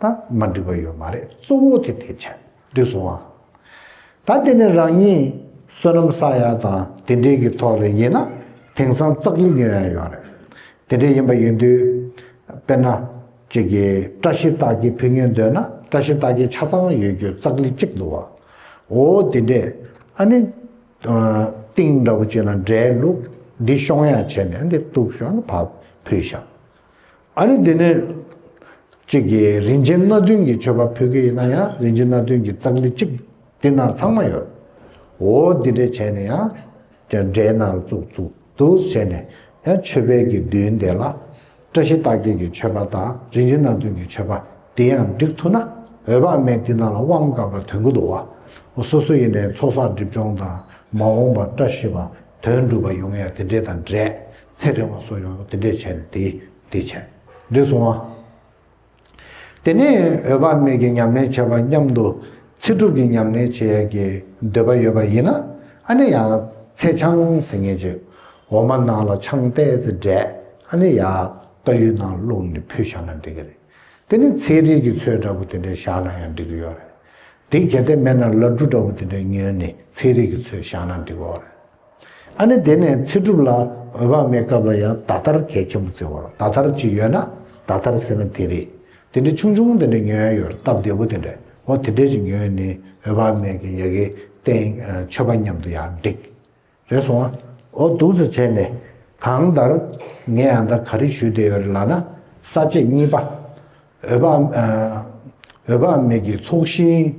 ད་མ་འགྲིག་པ་ཡོད་མ་རེད་གཙོ་བོ་དེ་དེ་ཆད་འགྲིག་སོང་ང། ད་དེ་ནི་རང་ཉིད་བསོད་ནམས་བསགས་ཡ་དང་དེ་འདྲའི་གི་ཐོག་ལས་ཡིན་ན་དེང་སང་བཙག་གི་ཉོས་ཡ་ཡོད་རེད་དེ་འདྲའི་ཡིན་པ་ཡིན་དུས་དཔེར་ན་ཅིག་གི་བཀྲ་ཤིས་རྟགས་ཀྱི་ཕུ་ཉོས་འདོད་ན་བཀྲ་ཤིས་རྟགས་ཀྱི་ཆ་ཚང་ཡོད་རྒྱུ་བཙག་ལི་གཅིག་འདུག་བ་འོ་དེ་འདྲས་ཨ་ནི་ཏིང་འདྲ་པོ་ཅིག་ལ་འདྲའི་ལུགས་འདི་ཤོང་ཡ་བྱས་ནས་འདི་གཏུགས་ཤོག་ཕ་ཕུལ་ཤག། ཨ་ནི་དེ་ནས། གཅིག་གིས་རིན་ཆེན་སྣ་བདུན་གྱི་མཆོད་པ་ཕུལ་གྱི་ཡིན་ན་ཡང་རིན་ཆེན་སྣ་བདུན་གྱི་ཙཀ་ལི་གཅིག་འདི་ན་ཚང་མ་ཡོད། འོ་འདི་འདྲས་བྱས་ནས་ཡང། འདྲའི་ནང་བཙུགས་བཙུགས་འདུག་བྱས་ནས་ཡང་མཆོད་པའི་གྱི་མདུན་དེ་ལ། བཀྲ་ཤིས་རྟགས་བརྒྱད་ཀྱི་མཆོད་པ་དང་རིན་ཆེན་སྣ་བདུན་གྱི་མཆོད་པ་འདི་ཡང་བསྒྲིགས་ཐུབ་ན་འོས་པ་མེད་འདི་ནང་ལ་དབང་བསྐུར་བ་དོན་ཀུན་ཏུ་བ། སོ་སོ་ཡེ་ནས་ཚོགས་བསགས་སྒྲིབ་སྦྱོང་དང་མ་འོངས་པར་བཀྲ་ཤིས་པ་དོན་འགྲུབ་པ་ཡོང་ཡ་དེ་འདྲས་དང་འདྲས་ཚད་རིང་བ་སོགས་ཡང་དེ་འདྲས་བྱས་ཏེ་དེ་བྱས་འདྲས་སོང་ངོ། དེ་ནས་འོད་དཔག་མེད་ཀྱི་ཉམས་ལེན་བྱེད་པ་སྙམ་དུ་ཚེ་སྒྲུབ་ཀྱི་ཉམས་ལེན་བྱེད་ཀྱི་འདོད་པ་ཡོད་པ་ཡིན་ན་ཨ་ནི་ཡང་ཚེ་ཆང་ཟེ་ངན་ཅིག་འོ་མ་ནང་ལ་ཆང་བཏད་ཚེ་འདྲས་ཨ་ནི་ཡང་རྟ་ཡུལ་ནང་བླུགས་ནས་ཕུལ་བཞག་ན་འགྲིག་གི་རེད། དེ་ནི་ཚེའི་རིགས་ཀྱི་ཚོད་འདྲ་པོ་དེ་འདྲས་བཞག་ན་ཡང་འགྲིག་གི་ཡོད་རེད། དེ་གལ་ཏེ་མེད་ན་ལར་འབྲུ་འདྲ་པོ་དེ་འདྲས་ཉོས་ནས་ཚེའི་རིགས་ཀྱི་ཚོད་བཞག་ན་འགྲིག་གི་འོ་རེད། ཨ་ནི་དེ་ནས་ཚེ་སྒྲུབ་ལ་འོས་དཔག་མེད་སྐབས་ལ་ཡང་ད་ལྟར་གལ་ཆེན་པོ་བརྩི་བར་ད་ལྟར་ཅིག་ཡོད་ན་ད་ལྟར་ཟེར་ན་དེ་རེད། དེ་འདྲའི་ཆུང་ཆུང་དེ་འདྲའི་ཉོན་ཡ་ཡོད་སྟབས་བདེ་པོ་དེ་འདྲ་འོ་དེ་འདྲའི་ཅིག་ཉོས་ནི་འོས་དཔག་མེད་ཀྱི་ཡ་གི་རྟེན་མཆོད་པ་མཉམ་དུ་ཡང་འགྲིག། རེ་སོང་ཨ་འོ་འདུག་ཟེར་བྱས་ནས་གང་ལྟར་ངས་ཨ་མདའ་ག་རེ་ཞུས་བསྡད་ཡོད་རེད་ལགས་ན་ས་བཅད་གཉིས་པ། འོད་དཔག་མེད་ཀྱི་ཚོགས་ཞིང།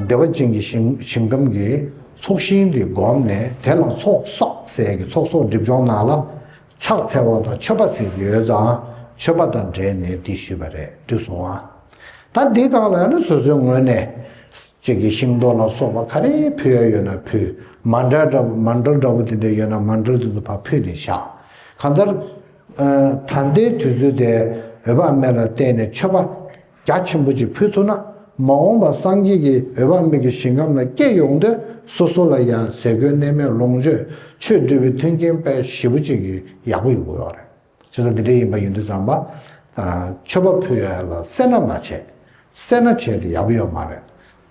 བདེ་བ་ཅན་གྱི་ཞིང་ཁམས་ཀྱི་ཚོགས་ཞིང་འདི་བསྒོམས་ནས་དེ་ལ་ཚོགས་བསགས་གསལ་གྱི་ཚོགས་གསོག་སྒྲིབ་སྦྱོང་གནང་ལ། ཕྱག་འཚལ་བ་དང་མཆོད་པ་ཟས་ཀྱི་ཡོད་ཙང་མཆོད་པ་དང་འབྲེལ་ནས་འདི་ཞུས་པ་རེད་དུས་སོང་ང། ད་འདི་བཏང་ལ་ཡང་ན་སོ་སོའི་ངོས་ནས། ཅིག་གི་ཤིང་ཏོག་ལ་སོགས་པ་ག་རེ་ཕུལ་ཡ་ཡོད་ན་ཕུལ། མ་འདྲ་འདྲ་པོ་དེ་འདྲ་ཡོད་ན་མ་འདྲ་དེ་ཚོ་ཕར་ཕུལ་ནས་བཞག་གང་ལྟར། ད་ལྟའི་དུས་ཚོད་དེ་འོད་དཔག་མེད་ལ་བརྟེན་ནས་མཆོད་པ་རྒྱ་ཆེན་པོ་ཅིག་ཕུལ་ཐུབ་ན་མ་འོངས་པར་སངས་རྒྱས་ཀྱི་འོད་དཔག་མེད་ཀྱི་ཞིང་ཁམས་ལ་སྐྱེ་ཡོང་དུས་སོ་སོ་ལ་ཡང་ཟས་གོས་གནས་མལ་ལོངས་སྤྱོད་ཆོས་འདུལ་བའི་མཐུན་རྐྱེན་དཔལ་ཞེ་པོ་ཅིག་ཡག་པོ་ཡོང་གི་ཡོད་རེད། ཅི་ལྟར་འདི་འདྲ་ཡིན་པ་ཡིན་དུས་ཙམ་པ། མཆོད་པ་ཕུལ་ཡ་ལ་སེར་སྣ་མ་བྱས། སེར་སྣ་བྱས་ཏེ་ཡག་པོ་ཡོད་མ་རེད།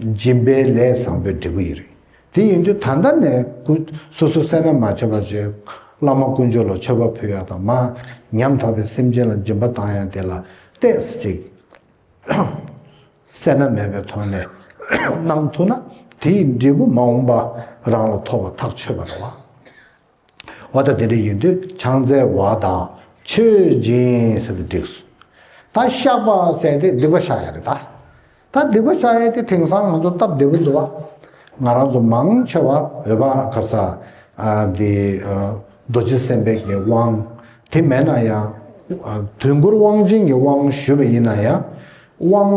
སྦྱིན་པའི་ལས་བཟང་པོའི་འབྲས་བུ་ཡིན། རིགས་འདི་ཡིན་དུས་ད་ལྟ་ནས་ཀུན། སོ་སོ་སེར་སྣ་མ་བྱེད་པར་བྱོས། བླ་མ་ཀུན་སྦྱོར་ལ་མཆོད་པ་ཕུལ་ཡག་དང་མ། ཉམ་ཐག་པའི་སེམས་ཅན་ལ་སྦྱིན་པ་དང་ཡང་དེ་ལ་བལྟས། ཅིག། སེར་སྣ་མེད་པའི་དོན་ལས། གནང་ཐུབ་ན་དེ་ཡི་འབྲས་བུ་མ་འོངས་པ། རང་ལ་ཐོབ་པར་ཐག་ཆོད་པར་བ། བ་དང་དེ་འདྲ་ཡིན་དུས་ཆང་རྩལ་བ་དང་མཆོད་སྦྱིན་ཟེར་དུ་བསྒྲིགས་སོ། ད་ཤག་པ་བསད་དེ་སྡིག་པ་བཤགས་ཡ་རེད་ད། ད་སྡིག་པ་བཤགས་ཡས་དེ་དེང་སང་ང་ཚོ་སྟབས་བདེ་པོ་འདུག་བ། ང་རང་ཚོ་མང་ཆེ་བ་འོད་དཔག་ག་ས་འདི་རྡོ་རྗེ་སེམས་དཔའི་གི་དབང་དེ་མེད་ན་ཡང། དུས་འཁོར་དབང་ཆེན་གི་དབང་ཞུས་པ་ཡིན་ན་ཡང། དབང་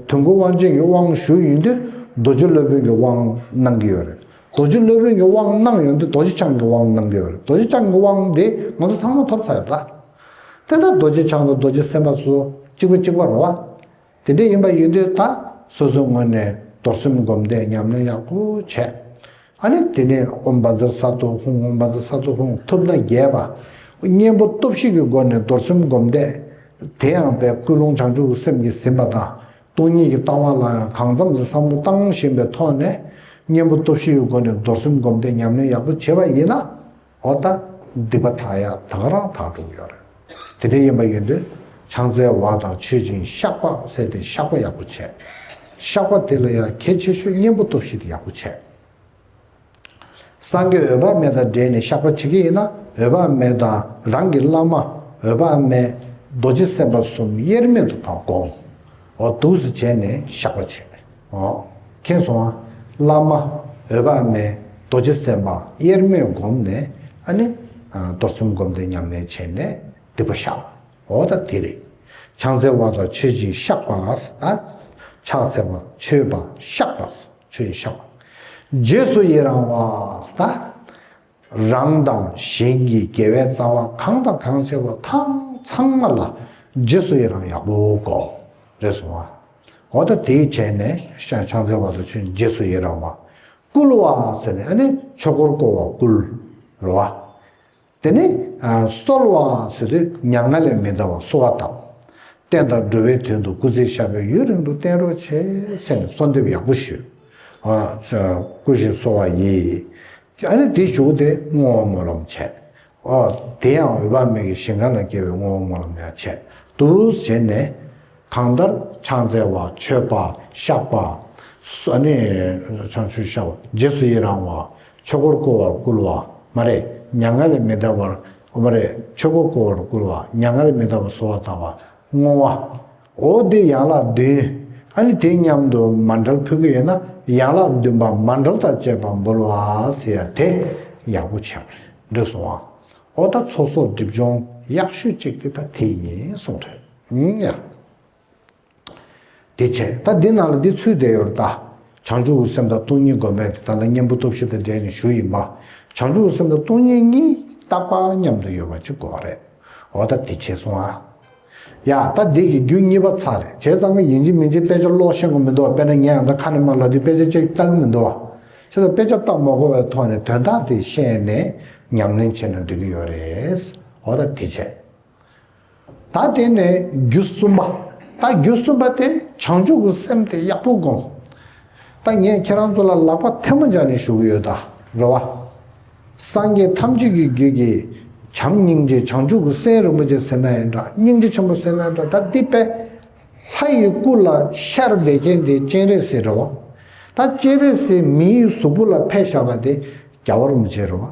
དུས་འཁོར་དབང་ཆེན་གི་དབང་ཞུས་ཡིན་དུས་རྡོ་རྗེ་སློབ་དཔོན་གི་དབང་གནང་གི་ཡོད་རེད། རྡོ་རྗེ་སློབ་དཔོན་གྱི་དབང་གནང་ཡོང་དུས་རྡོ་རྗེ་འཆང་གི་དབང་གནང་གི་ཡོད་རེད་རྡོ་རྗེ་འཆང་གི་དབང་དེ་ང་ཚོ་ཚང་མ་ཐོབ་ཚར་ཡོད་ལ། དེ་འདྲ་རྡོ་རྗེ་འཆང་དང་རྡོ་རྗེ་སེམས་དཔའ་སུ་གཅིག་པུ་གཅིག་པ་རོ། དེ་འདྲ་ཡིན་པ་ཡིན་དུས་ད་སོ་སོའི་ངོས་ནས་རྡོར་སེམས་བསྒོམ་བཟླས་ཉམས་ལེན་ཡག་པོ་བྱས། ཨ་ནི་དེ་ནས་ཨོམ་བྷ་ཛ་ས་ཏུ་ཧཱུྃ་ཨོམ་བྷ་ཛ་ས་ཏུ་ཧཱུྃ་ཐུབ་ན་རྒྱས་པ། གཉེན་པོ་སྟོབས་བཞི་གི་སྒོ་ནས་རྡོར་སེམས་བསྒོམ་བཟླས། དེའང་བས་སྐུལ་སློང་བྱང་ཆུབ་སེམས་ཀྱིས་ཟིན་པ་དང། སྟོང་ཉིད་ཀྱི་ལྟ་བ་ལ་ཡང་གང་འཚམ་གྱི་བསམ་བློ་གཏང་བཞིན་པའི་ཐོག་ནས་གཉེན་པོ་སྟོབས་བཞི་ཡོད་སྒོ་ནས་རྡོར་སེམས་སྒོམ་སྡེ་ཉམས་ལེན་ཡག་པོ་བྱེད་པ་ཡིན་ན་འོ་ད་སྡིག་པ་དག་ཡག་དག་རང་དག་འགྲུབ་ཡོད་རེད། དེ་འདྲའི་ཡིན་པ་ཡིན་དུས་ཆང་རྩའི་བ་དང་མཆོད་སྦྱིན་བཤགས་པ་བསྲེས་ཏེ་བཤགས་པ་ཡག་པོ་བྱས། བཤགས་པ་དེ་ལ་ཡང་གལ་ཆེ་ཤོས་གཉེན་པོ་སྟོབས་བཞི་དེ་ཡག་པོ་བྱས། སངས་རྒྱས་འོད་དཔག་མེད་དང་འབྲེལ་ནས་བཤགས་པ་བྱེད་ཀྱི་ཡིན་ན་འོད་དཔག་མེད་དང་རང་གི་བླ་མ་འོད་དཔག་མེད་རྡོ་རྗེ་སེམས་དཔའ་གསུམ་དབྱེར་མེད་དུ་དང་དགོངས་འོག་ཏུ་བཞི་བྱས་ནས་བཤགས་པ་བྱེད། མཁྱེན་སོང་ང་བླ་མ་འོད་དཔག་མེད་རྡོ་རྗེ་སེམས་དཔའ་དབྱེར་མེད་བསྒོམས་ནས་ཨ་ནི། རྡོར་སེམས་བསྒོམ་སྟེ་ཉམས་ལེན་བྱས་ནས་སྡིག་པ་བཤགས་འོ་ད་དེ་རེད། ཕྱག་འཚལ་བ་དང་མཆོད་སྦྱིན་བཤགས་པ། ཕྱག་འཚལ་བ་མཆོད་པ་བཤགས་པ། ཚུལ་བཤགས། རྗེས་སུ་ཡི་རང་བ་སྟ། རང་དང་གཞན་གྱི་དགེ་བའི་རྩ་བ་གང་དང་གང་བྱས་པ་དང་ཚང་མ་ལ་རྗེས་སུ་ཡི་རང་ཡག་པོ་གོ། རེ་ཟུང་བ། འོ་ད་དེ་བྱས་ནས་ཤ་ཆང་འཚལ་བ་དང་ཆོས་རྗེས་སུ་ཡི་རང་བ། བསྐུལ་བ་ཟེར་ནས་ཨ་ནི་ཆོས་འཁོར་བསྐོར་བ་བསྐུལ། རོ་བ། དེ་ནི་གསོལ་བ་ཟེར་དུས་ཉམ་ང་ལས་མི་འདའ་བར་གསོལ་བ་བཏབ། བསྟན་དང་འགྲོ་བའི་དོན་དུ་སྐུ་ཚེ་ཤ་བོའི་ཡུན་རིང་དུ་བརྟན་རོགས་བྱས་ཟེར་ནས་གསོལ་འདེབས་ཡག་པོ་ཞུས། སྐུ་བཞེངས་གསོལ་བ་ཡིས། ཨ་ནི་དེ་བཞུགས་ཏེ་བསྔོ་བ་སྨོན་ལམ་བྱས། དེ་ཡང་འོད་དཔག་མེད་ཀྱི་ཞིང་ཁང་ན་སྐྱེལ་བའི་བསྔོ་བ་སྨོན་ལམ་ཡང་བྱས། དུ་བཞེངས་ནས། གང་ལྟར་ཕྱག་འཚལ་བ་མཆོད་པ་བཤགས་པ། རྗེས་སུ་ཡི་རང་བ། ཆོས་འཁོར་བསྐོར་བར་བསྐུལ་བ། མ་རེ། མྱ་ངན་ལས་མི་འདའ་བར། མ་རེ། ཆོས་འཁོར་བསྐོར་བར་བསྐུལ་བ། མྱ་ངན་ལས་མི་འདའ་བར་གསོལ་བ་བཏབ་པ། བསྔོ་བ། འོ་འདི་ཡན་ལག་བདུན། ཨ་ནི་དེ་མཉམ་དུ་མ་འདྲལ་ཕུལ་གྱི་ཡོད་ན་ཡན་ལག་བདུན་པ་མ་འདྲལ་དང་བཅས་པ་འབུལ་བ་ཟེར་ཡ་དེ་ཡག་པོ་བྱས་པ་རེད་འདོད་སོང་ཨ། འོ་ད་ཚོགས་གསོག་སྒྲིབ་སྦྱོང་ཡག་ཤོས་གཅིག་དེ་ད་དེ་ཡིན་གསུངས་རེད། ཡིན་ཡང། དེ་ཆད་ད་འདི་ན་ལ་འདི་ཚུད་བསྡད་ཡོད་ད། བྱང་ཆུ་བོ་སེམས་དང་སྟོང་ཉིད་སྒོམ་པའི་ད་ལྟ་གཉེན་པོ་སྟོབས་བཞི་དང་འབྲེལ་ནས་ཞུ་ཡིན་པ། བྱང་ཆུ་བོ་སེམས་དང་སྟོང་ཉིད་གཉིས་རྟག་པར་མཉམ་དུ་ཡོད་པ་གཅིག་གོ་རེད། འོ་ད་དེ་ཆད་སོང་ཨ། ཡ་ད་འདི་གི་རྒྱུ་གཉིས་པ་ཚར་རེད་བྱས་ཙང་ང་ཡིན་གཅིག་མིན་གཅིག་དཔེ་ཆ་ཀློག་ཤེས་གོ་མི་འདུག་བ་དཔེར་ན་ངས་ཡང་ད་ཁ་ནས་མར་ལ་འདི་དཔེ་ཆ་གཅིག་བལྟ་གི་མི་འདུག་བ། ཁྱེད་ཚོ་དཔེ་ཆ་བལྟ་མ་གོ་བའི་ཐོག་ནས་དོན་དག་དེ་ཤེས་ནས་ཉམས་ལེན་བྱས་ན་འགྲིག་གི་ཡོད་རེད། འོ་ད་དེ་ཆད། ད་དེ་ནས་རྒྱུ་གསུམ་པ། ད་རྒྱུ་གསུམ་པ་དེ་བྱང་ཆུབ་ཀྱི་སེམས་དེ་ཡག་པོ་བསྒོམ། ད་ངས་ཁྱེད་རང་ཚོ་ལ་ལག་པ་ཐལ་མོ་སྦྱར་ནས་ཞུ་གི་ཡོད་ད་རེད་བ། སངས་རྒྱས་ཐམས་ཅད་ཀྱི་རྒྱུད་ཀྱི་བྱམས་སྙིང་རྗེ་བྱང་ཆུབ་ཀྱི་སེམས་རིན་པོ་ཆེ་སེར་སྣ་ཡི་འདྲ་སྙིང་རྗེ་ཆེན་པོ་སེར་སྣའི་འདྲ་ད་འདི་པས། ལྷ་ཡི་སྐུ་ལ་ཤར་བས་མཁན་དེ་སྤྱན་རས་གཟིགས་རེད་བ། ད་སྤྱན་རས་གཟིགས་མིའི་གཟུགས་པོ་ལ་ཕས་བཞག་པ་དེ་རྒྱ་བོར་མི་བྱེད་རེད་བ།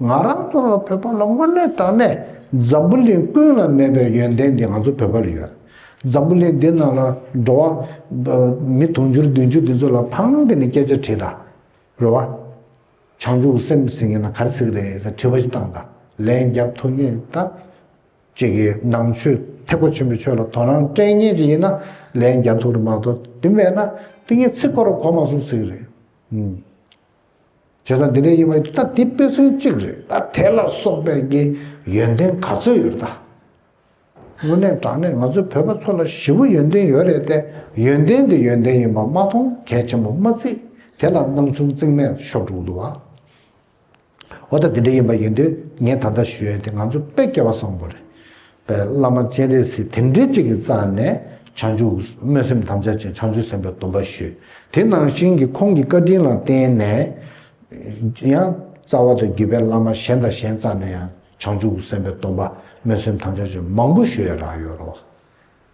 ང་རང་ཚོ་ལ་བོད་པ་ལ་དངོས་གནས་དྲང་གནས་འཛམ་བུ་གླིང་ཀུན་ལ་མེད་པའི་ཡོན་ཏན་འདི་ང་ཚོ་བོད་པ་ལ་ཡོད། འཛམ་བུ་གླིང་འདི་ནང་ལ་འགྲོ་བ། མི་དུང་ཕྱུར་བདུན་ཅུ་འདི་ཚོ་ལ་ཕང་གི་ནས་སྐད་ཆ་དྲིས་དང། རེད་བ། བྱང་ཆུབ་སེམས་ཟིན་ཡིན་ན་གར་ཟིག་རེད་ཟེར་དྲི་བ་ཞིག་བཏང་དང་ལན་རྒྱབ་ཐུབ་ངེས་ད། ཅིག་གིས་ནང་ཆོས་ཐེག་པ་ཆེན་པོ་ཆོས་ལ་དོ་སྣང་སྤྲད་ངེས་ཅིག་ཡིན་ན་ལན་རྒྱབ་ཐུབ་རེད་མ་གཏོགས་དེ་མེད་ན་ཏིང་ངེ་ཚིག་སྐོར་གོ་མ་སོང་ཟིག་རེད། བྱས་ཙང་འདི་འདྲའི་དབྱེ་བ་ཡོད་ད་འདི་དཔེ་མཚོན་གཅིག་རེད་ད་དེ་ལ་སོགས་པའི་ཀྱི་ཡོན་ཏན་ག་ཚོད་ཡོད་ད། དངོས་གནས་དྲང་གནས་ང་ཚོའི་བོད་པ་ཚོ་ལ་བཞི་བོ་ཡོན་ཏན་ཡོད་རེད་ཏེ་ཡོན་ཏན་འདི་ཡོན་ཏན་ཡིན་པ་མ་མཐོང་གལ་ཆེན་པོ་མ་བརྩིས་དེ་ལ་སྣང་ཆུང་རྩིང་མེད་ཤོག་འགྲོ་འདུག་བ། འོ་ད་འདི་འདྲ་ཡིན་པ་ཡིན་དུས་ངས་ད་ལྟ་ཞུས་ཡོད་དེ་ང་ཚོ་དཔེ་སྐྱེལ་བ་བཟང་པོ་རེད་པའི་བླ་མ་སྤྱན་རས་གཟིགས་དེ་འདྲའི་གཅིག་གིས་རྩ་ནས་བྱང་ཆུབ་སྨོན་སེམས་དམ་བཅའ་ཅན་བྱང་ཆུབ་སེམས་དཔའི་སྡོམ་པ་ཞུས། དེ་ནང་བཞིན་གྱི་ཁོང་གི་བཀའ་དྲིན་ལ་བརྟེན་ནས་ཡང། རྩ་བ་དང་བརྒྱུད་པའི་བླ་མ་གཞན་དང་གཞན་རྩ་ནས་ཡང་བྱང་ཆུབ་སེམས་དཔའི་སྡོམ་པ་སྨོན་སེམས་དམ་བཅའ་ཅན་མང་པོ་ཞུ་ཡ་རག་ཡོད་རོ།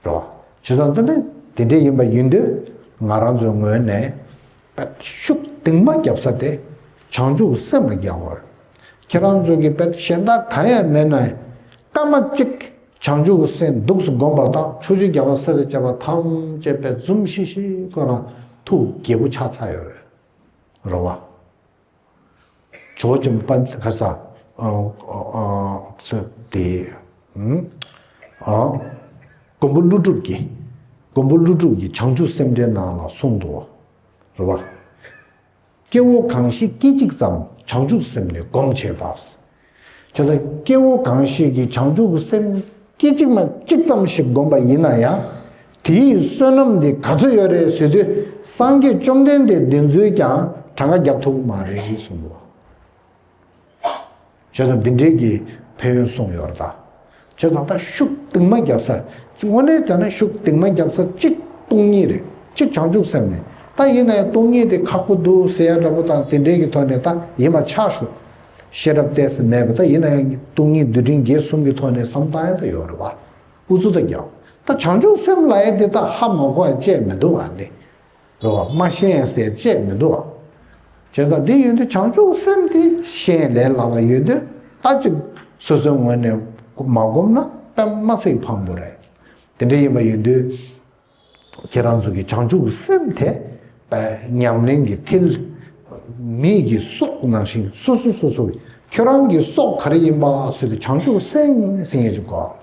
རེད། བྱས་ཙང་དོན་དངོས་དེ་འདྲ་ཡིན་པ་ཡིན་དུས་ང་རང་ཚོའི་ངོས་ནས་ཤུགས་གཏིང་མ་བརྒྱབ་ས་དེ་བྱང་ཆུབ་སེམས་ལ་རྒྱག་དགོས་རེད། ཁྱེད་རང་ཚོ་གི་དཔེར་གཞན་དག་གང་ཡང་མེད་ན་སྐར་མ་གཅིག་བྱང་ཆུབ་སེམས་སྡུགས་སུ་བསྒོམ་པ་དང་ཆོས་ཆུ་རྒྱ་བ་སེར་བྱ་བ་ཐམས་ཅད་པད་འཛུམ་ཤིག་ཤིག་གོ་རང་ཐུགས་དགྱེས་པོ་ཆགས་ཚར་ཡོད་རེད། ཇོ་བྱང་པ་ལྷ་ས་སློབ་སྡེ། མགོན་པོ་ཀླུ་སྒྲུབ་ཀྱིས་མགོན་པོ་ཀླུ་སྒྲུབ་ཀྱི་བྱང་ཆུབ་སེམས་འགྲེལ་ནང་ལ་གསུངས་འདུག་རེད་བ། སྐྱེ་བོ་གང་ཞིག་སྐད་ཅིག་ཙམ་བྱང་ཆུབ་སེམས་ནི་སྒོམ་བྱེད་པ། ཁྱོད་ལ་སྐྱེ་བོ་གང་ཞིག་གིས་བྱང་ཆུབ་སེམས་སྐྱེད་ཅིག་མ་གཅིག་ཙམ་ཞིག་བསྒོམས་པ་ཡིན་ན་ཡང། དེའི་བསོད་ནམས་འདི་ག་ཚོད་ཡོད་རེད་ཟེར་དུས་སངས་རྒྱས་བཅོམ་ལྡན་འདས་བདེན་བརྫུན་ཀྱང་གྲངས་ཀ་རྒྱག་ཐུབ་མ་རེད་གསུངས་འདུག་བ། བྱས་ཙང་འདི་འདྲས་ཀྱི་ཕན་ཡོན་གསུངས་ཡོད་རེད་ད། བྱས་ཙང་ད་ཤུགས་གཏིང་མ་བརྒྱབ་ས་དངོས་གནས་བྱས་ན་ཤུགས་གཏིང་མ་བརྒྱབ་ས་གཅིག་སྟོང་ཉིད་རེད་གཅིག་བྱང་ཆུབ་སེམས་ནི་ད་ཡིན་ན་ཡང་སྟོང་ཉིད་དེ་ཁག་པོ་འདུག་ཟེར་ཡ་འདྲ་པོ་དང་དེ་འདྲའི་གི་ཐོག་ནས་ད་ཡིན་པ་ཆགས་ཤོག་ཤེས་རབ་གཏད་ས་མེད་པ་ད་ཡིན་ན་ཡང་སྟོང་ཉིད་རྡུལ་ཕྲན་བརྒྱད་གསུམ་གི་ཐོག་ནས་བསམ་བཏང་ཡ་ད་ཡོད་རེད་བ་ཨུ་ཚུགས་ད་རྒྱག་ད་བྱང་ཆུབ་སེམས་ལ་ཡ་དེ་ད་ཧ་མ་གོ་བ་བཅས་མི་འདུག་བ་ནི་འདུག་བ་མ་ཤེས་ཡང་ཟད་ཅེས་མི་འདུག་བ། བྱས་ཙང་འདི་ཡོད་དུས་བྱང་ཆུབ་སེམས་དེ་ཤེས་ལས་སླ་བ་ཡོད་དུས་ལྟ་ཅི། སོ་སོའི་ངོས་ནས་མ་བསྒོམས་ན་པདྨ་གསེག་འཕང་པོ་རེད། དེ་འདྲ་ཡིན་པ་ཡོད་དུས། ཁྱེད་རང་ཚོ་གི་བྱང་ཆུབ་སེམས་དེ། ཉམས་ལེན་གྱི་མཐིལ། མིག་གི་སོགས་ནང་བཞིན་སོ་སོ་སོ་སོ་གི་ཁྱོད་རང་གི་སོགས་ག་རེ་ཡིན་པ་སོས་ཏེ་བྱང་ཆུབ་སེམས་ཟེར་ངེས་ཅི་དགོས།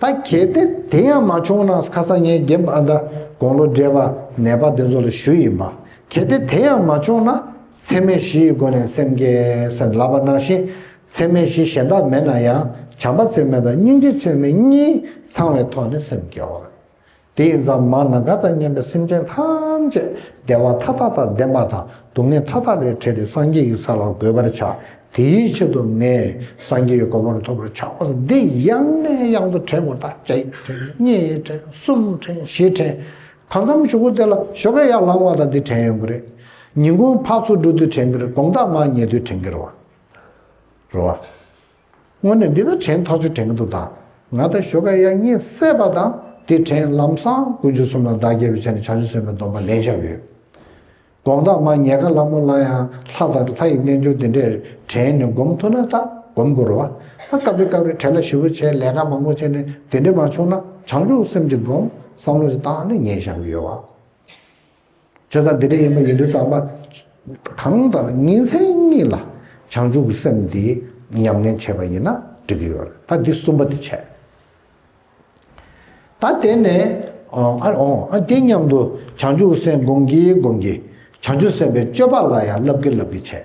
ད་གལ་ཏེ་དེ་ཡང་མ་བྱུང་ན་ཁ་སང་ངས་རྒན་པ་ཨ་མདའ་དགུང་ལོ་བགྲེས་པ་ནད་པ་འདི་ཚོ་ལ་ཞུ་ཡིན་པ་གལ་ཏེ་དེ་ཡང་མ་བྱུང་ན་འཚེ་མེད་བཞི་ཡི་སྒོ་ནས་སེམས་སྐྱེལ་སེམས་ལ་བ་ན་བཞིན་འཚེ་མེད་བཞི་གཞན་དག་མེད་ན་ཡང་བྱམས་པ་འཚེ་མེད་དང་སྙིང་རྗེ་འཚེ་མེད་གཉིས་ཚང་བའི་ཐོག་ནས་སེམས་སྐྱེལ་བ། དེ་ཡི་འཛམ་མ་ན་ག་ད་སྙམ་པའི་སེམས་ཅན་ཐམས་ཅད་བདེ་བ་མཐའ་དག་དང་ལྡན་པ་དང་སྡུག་བསྔལ་མཐའ་དག་ལས་བྲལ་ཏེ་སངས་རྒྱས་ཀྱི་ས་ལ་འགོད་པར་བྱ། དེའི་ཆེད་དུ་ངས་སངས་རྒྱས་ཀྱི་གོ་འཕང་ཐོབ་པར་བྱའོ། འདི་ཡང་ནས་ཡང་དུ་བྲན་བུར་དག་བྱ། ཡིག་བྲན་གཉིས་བྲན་གསུམ་བྲན་བཞི་བྲན། གང་འཚམ་བཞུགས་སྐུ་དེ་ལ་ཞོ་ཁ་ཡར་ལངས་བ་དང་འདི་བྲན་ཡོང་གི་རེད། ཉིན་གུང་ཕག་ཚོ་འགྲོ་དུས་བྲན་གི་རེད་དགོང་དག་མར་ཉལ་དུས་བྲན་གི་རེད། རེད། སྔོན་ནས་འདི་ལ་བྲན་ཐག་ཆོད་དྲན་གྱི་འདུག་ད་ང་དང་ཞོ་ཀ་ཡག་གཉིས་བསད་པ་དང་དེ་བྲན་ལམ་སང་དགུན་ཆུ་གསུམ་ལ་བདག་རྒྱལ་བའི་ཆ་ནས་བྱ་ཆུ་གསོན་པའི་སྡོམ་པ་ལེན་བཞག་ཡོད། དགོངས་དག་མ་ཉལ་ཁ་ལྷ་མོ་ལ་ཡང་ལྷ་དང་ལྷ་ཡི་རྣལ་འབྱོར་འདི་འདྲས་བྲན་ནས་སྒོམ་ཐུབ་ན་ད་སྒོམ་དགོས་རོ། སྐབས་རེ་སྐབས་རེ་བྲན་ལ་ཞི་བ་བྱས་ལས་ཀ་མང་པོ་བྱས་ནས་དེ་འདྲས་མ་བྱུང་ན་བྱང་ཆུབ་སེམས་ཀྱི་སྒོམ་བསམ་བློ་ཞིག་བཏང་ནས་ཉལ་བཞག་གི་ཡོད། བྱས་ཙང་དེ་འདྲ་ཡིན་པ་ཡིན་དུས་ཙང་པ། གང་ལྟར་ཉིན་མཚན་གཉིས་ལ་བྱང་ཆུབ་ཀྱི་སེམས་འདི་ཉམས་ལེན་བྱས་པ་ཡིན་ན་འགྲིག་གི་ཡོད་རེད་ད་འདི་གསུམ་པ་འདི་བྱས། ད་དེ་ནས་ཨ་དེ་མཉམ་དུ་བྱང་ཆུབ་སེམས་སྒོམ་གྱིས་སྒོམ་གྱིས་བྱང་ཆུབ་སེམས་དཔའི་སྤྱོད་པ་ལ་ཡང་བསླབ་ཀྱིས་བསླབ་ཀྱིས་བྱས།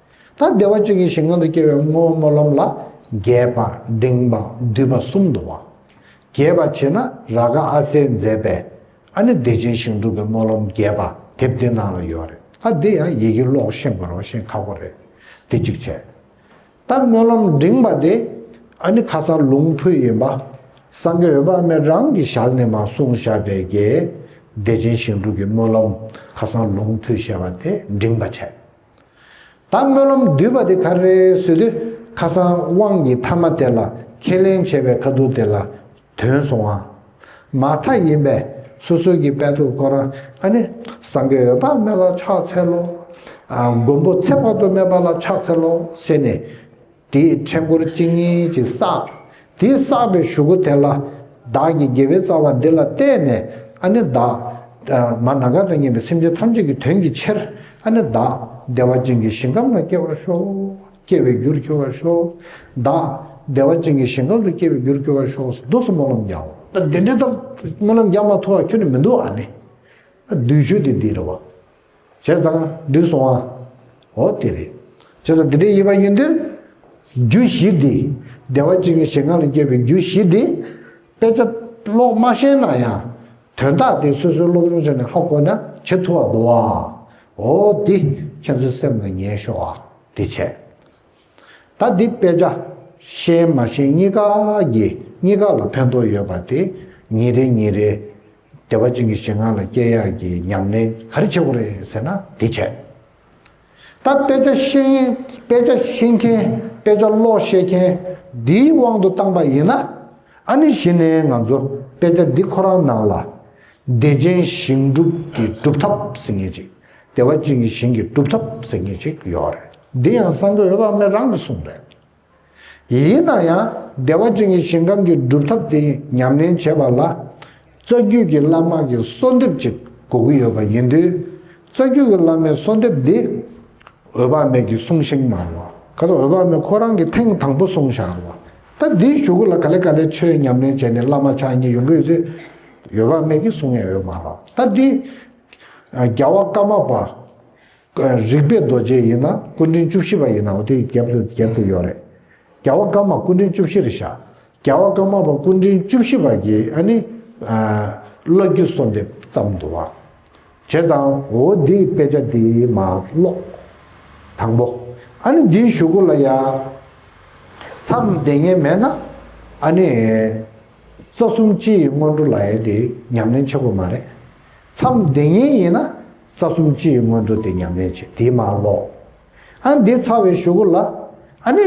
ད་བདེ་བ་བཅུ་གྱི་ཞིང་ཁང་དུ་སྐྱེ་བའི་སྔོ་སྨོན་ལམ་ལ། རྒྱས་པ་འབྲིང་བ་བསྡུས་པ་གསུམ་དུ་བ། རྒྱས་པ་བྱེད་ན་ར་ག་ཨ་སའི་མཛད་པའི། ཨ་ནི་བདེ་ཆེན་ཞིང་དྲུག་གི་སྨོན་ལམ་རྒྱས་པ་དེབ་འདི་ནང་ལ་ཡོད་རེད་ཨ་འདི་ཡང་ཡི་གེ་ཀློག་བཤད་མགོ་རང་བཞིན་ཁག་པོ་རེད་འདི་གཅིག་བྱས། ད་སྨོན་ལམ་འབྲིང་བ་དེ། ཨ་ནི་ཁ་སང་ལུང་ཕུད་ཡིན་པ། སང་གི་འོད་དཔག་མེད་རང་གིས་བཞག་ནས་མ་གསུངས་བཞག་པའི་རྒྱས། བདེ་ཆེན་ཞིང་དྲུག་གི་སྨོན་ལམ་ཁ་སང་ལུང་ཕུད་བཤད་པ་དེ་འབྲིང་བ་བྱས། ད་སྨོན་ལམ་བསྡུས་པ་དེ་ག་རེ་བཟོས་དུས་ཁ་སང་དབང་གི་ཐ་མ་དེ་ལ་ཁས་ལེན་བྱས་པའི་ཁ་ཐུག་དེ་ལ་དོན་སོང་བ་མ་མཐའ་ཡིན་པས་སོ་སོའི་གི་དཔལ་ཐུགས་དཀོར་ཨ་ནི་སང་གི་འོད་དཔག་མེད་ལ་ཕྱག་འཚལ་ལོ། མགོན་པོ་ཚེ་དཔག་ཏུ་མེད་པ་ལ་ཕྱག་འཚལ་ལོ་ཟེར་ནས། དེས་ཕྲེང་སྐོར་གཅིག་གཉིས་ཀྱིས་བསགས། དེས་བསགས་པའི་གཞུ་གུ་དེ་ལ། བདག་གིས་དགེ་བའི་རྩ་བ་འདི་ལ་བལྟས་ནས། ཨ་ནི་བདག། མ་ན་ག་དང་གཉེན་པའི་སེམས་ཅན་ཐམས་ཅད་ཀྱི་དོན་གྱི་ཕྱིར། ཨ་ནི་བདག། བདེ་བ་ཅན་གྱི་ཞིང་ཁམས་ན་སྐྱེ་བར་ཤོག། སྐྱེ་བའི་རྒྱུར་གྱུར་བར་ཤོག། བདག། བདེ་བ་ཅན་གྱི་ཞིང་ཁམས་སུ་སྐྱེ་བའི་རྒྱུར་གྱུར་བར་ཤོག་སྡུགས་སུ་སྨོན་ལམ་བརྒྱའོ། འདི་འདི་ལྟར་སྨོན་ལམ་བརྒྱ་མ་ཐོ་བ་ཁྱོད་ནི་མི་འདུག་ཨ་ནི། བདུད་བཞུ་སྟེ་འདི་རུ་བ། བྱས་ཙང་འགྲིག་སོང་ཨ། འོ་དེ་རེད། བྱས་ཙང་འདི་འདྲའི་དབྱེ་བ་ཡིན་དུས། རྒྱུ་བཞི་འདི། བདེ་བ་གཅིག་གི་ཞེ་སྔགས་ལས་སྐྱེས་པའི་རྒྱུ་བཞི་འདི། དཔེ་ཆ་ཀློག་མ་ཤེས་ན་ཡང། དོན་དག་དེ་སོ་སོའི་སློབ་སྦྱོང་བྱས་ནས་ཧ་གོ་ན་ཇེ་ཐུ་བ་འདུག་ཨ། འོ་དེ། ཁྱེད་ཚོའི་སེམས་ལ་ཉན་ཤོག་ཨ། དེ་བྱས། ད་འདི་དཔེ་ཆ། ཤེས་མ་ཤེས་གཉིས་ཀ་ཡིན་གཉིས་ཀ་ལ་ཕན་ཐོགས་ཡོད་པ་དེ་ཉིན་རེ་ཉིན་རེ། བདེ་བ་ཅན་གྱི་ཞེ་སྔངས་ལ་སྐྱེ་ཡག་གི་ཉམས་ལེན་ག་རེ་བྱེད་དགོས་རེད་ཟེར་ན་འདི་བྱས། ད་དཔེ་ཆ་ཤེས་མཁན་དཔེ་ཆ་ཤེས་མཁན་དཔེ་ཆ་ཀློག་ཤེས་མཁན་འདིའི་དབང་དུ་བཏང་པ་ཡིན་ན། ཨ་ནི་གཞི་ནས་ང་ཚོ་དཔེ་ཆ་འདི་ཁོ་རང་ནང་ལ། བདེ་ཆེན་ཞིང་སྒྲུབ་ཀྱི་སྒྲུབ་ཐབས་ཟེར་ངེས་ཅིག། བདེ་བ་གཅིག་གིས་ཞིང་གི་སྒྲུབ་ཐབས་ཟེར་ངེས་ཅིག་ཡོད་རེད། འདི་ཡང་གསང་གོས་དབལ་མེ་རང་གི་གསུང་རེད། ཡིན་ན་ཡང་བདེ་བ་ཅན་གྱི་ཞིང་ཁམས་ཀྱི་སྒྲུབ་ཐབས་དེ་ཉམས་ལེན་བྱེད་པ་ལ། རྩ་རྒྱུད་ཀྱི་བླ་མ་གི་གསོལ་འདེབས་ཅིག་དགོས་ཀྱི་ཡོད་པ་ཡིན་དུས། རྩ་རྒྱུད་ཀྱི་བླ་མའི་གསོལ་འདེབས་འདི། འོད་དཔག་མེད་ཀྱིས་གསུང་ཤིང་མ་རུང་བ། ག་ཚོད་འོད་དཔག་མེད་ཁོ་རང་གིས་ཐེངས་དང་པོ་གསུང་བཞག་རུང་བ། ད་འདིའི་ཞུ་སྒོ་ལ་ག་ལེ་ག་ལེ་ཆོས་ཉམས་ལེན་བྱས་ནས་བླ་མ་ཕྱག་གཉིས་ཡོང་གི་ཡོད་དུས། འོད་དཔག་མེད་ཀྱིས་གསུང་ངེས་ཡོད་མ་རུང་བ། ད་འདི། རྒྱལ་བ་ཀ་མ་པ། རིག་པའི་རྡོ་རྗེ་ཡིན་ན་སྐུ་འཕྲེང་བཅུ་བཞི་པ་ཡིན་ནའོ་དེ་རྒྱབ་ཏུ་རྒྱབ་ཏུ་ཡོད་རེད། རྒྱལ་བ་ཀ་མ་སྐུ་འཕྲེང་བཅུ་བཞི་རེད་ཤག་རྒྱལ་བ་ཀ་མ་པ་སྐུ་འཕྲེང་བཅུ་བཞི་པ་ཀྱི་ཨ་ནི། བློ་རྒྱུད་གསོལ་འདེབས་ཙམ་དུ་བ། བྱས་ཙང་འོ་འདི་དཔེ་ཆ་འདི་མ་ཀློག། དང་པོ། ཨ་ནི་འདིའི་ཞུ་སྒོ་ལ་ཡ། མཚམས་བདེ་ངེས་མེད་ན། ཨ་ནི། རྩ་གསུམ་སྤྱི་ཡི་སྔོན་འགྲོ་ལ་ཡ་དེ་ཉམས་ལེན་ཆེ་པོ་མ་རེད། མཚམས་འདི་ཉིན་ཡིན་ན་རྩ་གསུམ་སྤྱི་ཡི་སྔོན་འགྲོ་དེ་ཉམས་ལེན་བྱེད་དེ་མ་ཀློག། ཨ་འདི་ཚ་བའི་ཞུ་གུ་ལ། ཨ་ནི།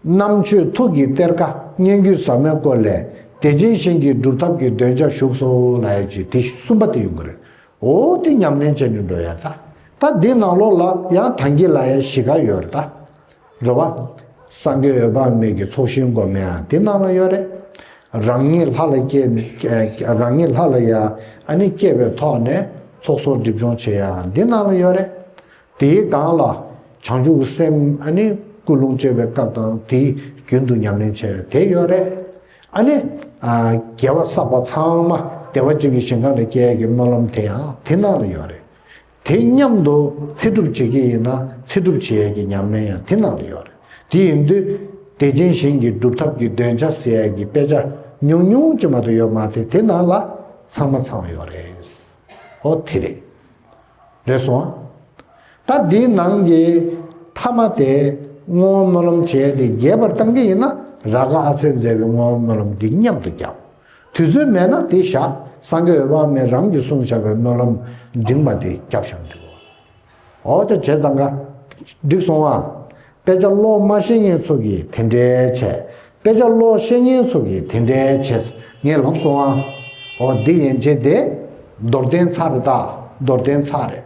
གནམ་ཆོས་ཐུགས་ཀྱི་གཏེར་ཁ་སྙན་བརྒྱུད་ཟབ་མོའི་སྐོར་ལས་བདེ་ཆེན་ཞིང་གི་སྒྲུབ་ཐབས་ཀྱི་འདོན་ཆ་བཞུགས་སོ་ལ་ཨེ་ཅི་དེ་གསུམ་པ་དེ་ཡོང་གི་རེད་འོ་དེ་ཉམས་ལེན་བྱེད་ནས་འགྲོ་ཡ་ད། ད་འདི་ནང་ལོགས་ལ་ཡང་ཐང་གི་ལ་ཡའི་གཞིས་ཀ་ཡོད་རེད་ད། རེད་བ། སངས་རྒྱས་འོད་དཔག་མེད་ཀྱི་ཚོགས་ཞིང་སྒོ་མའི་དེ་ནང་ལ་ཡོད་རེད། རང་ཉིད་ལྷ་ལ་སྐྱེས། རང་ཉིད་ལྷ་ལ་ཡ་ཨ་ནི་སྐྱེས་པའི་ཐོག་ནས་ཚོགས་གསོག་སྒྲིབ་སྦྱོང་བྱེད་ཡ་འདི་ནང་ལ་ཡོད་རེད། དེའི་སྒང་ལ་བྱང་ཆུབ་སེམས་ཨ་ནི་སྐུ་རླུང་སྤྱོད་པའི་སྐབས་དང་དེའི་རྒྱུན་དུ་ཉམས་ལེན་བྱེད་ཡ་དེ་ཡོད་རེད། ཨ་ནི། རྒྱལ་བ་བསགས་པ་ཚང་མ་བདེ་བ་ཅན་གྱི་ཞིང་གང་ལ་སྐྱེ་ཡ་ཀྱི་སྨོན་ལམ་དེ་ཡང་དེ་ནང་ལ་ཡོད་རེད། དེ་མཉམ་དུ་ཚེ་སྒྲུབ་བྱེད་ཀྱི་ཡིན་ན་ཚེ་སྒྲུབ་བྱེད་ཡས་ཀྱི་ཉམས་ལེན་ཡང་དེ་ནང་ལ་ཡོད་རེད། དེ་ཡིན་དུས་བདེ་ཆེན་ཞིང་གི་སྒྲུབ་ཐབས་ཀྱི་འདོན་ཆ་ཟེར་ཡས་ཀྱི་དཔེ་ཆ་ཉུང་ཉུང་ཅིག་མ་ཏོ་ཡོད་མ་རེད་དེ་ནང་ལ་ཚང་མ་ཚང་ཡོད་རེད། ཨོ་དེ་རེད། རེད་སོང་ཨ། ད་འདིའི་ནང་གི་མཐའ་མ་དེ་བསྔོ་བ་སྨོན་ལམ་བྱས་ཏེ་རྒྱས་པར་བཏང་གི་ཡིན་ན་ར་ག་ཨ་སེར་མཛད་པའི་བསྔོ་བ་སྨོན་ལམ་འདི་མཉམ་དུ་རྒྱབ། དུས་ཚོད་མེད་ན་དེ་བཞག་སངས་རྒྱས་འོད་དཔག་མེད་རང་གིས་གསུང་བྱ་བའི་སྨོན་ལམ་འབྲིང་བ་དེ་རྒྱབ་བཤམས་འདུག། འོ་ཅོ་བྱས་ཙང་ཀ། འགྲིག་སོང་ཨ། དཔེ་ཆ་ཀློག་སྨྲ་བཤེས་གཉེན་ཚོ་གིས་དེ་འདྲས་བྱས། དཔེ་ཆ་ཀློག་བཤེས་གཉེན་ཚོ་གིས་དེ་འདྲས་བྱས། ངས་ལབ་སོང་ཨ། འོ་འདི་ཡན་ཆད་དེ། རྡོར་གདན་ཚར་རེད་ད། རྡོར་གདན་ཚར་རེད།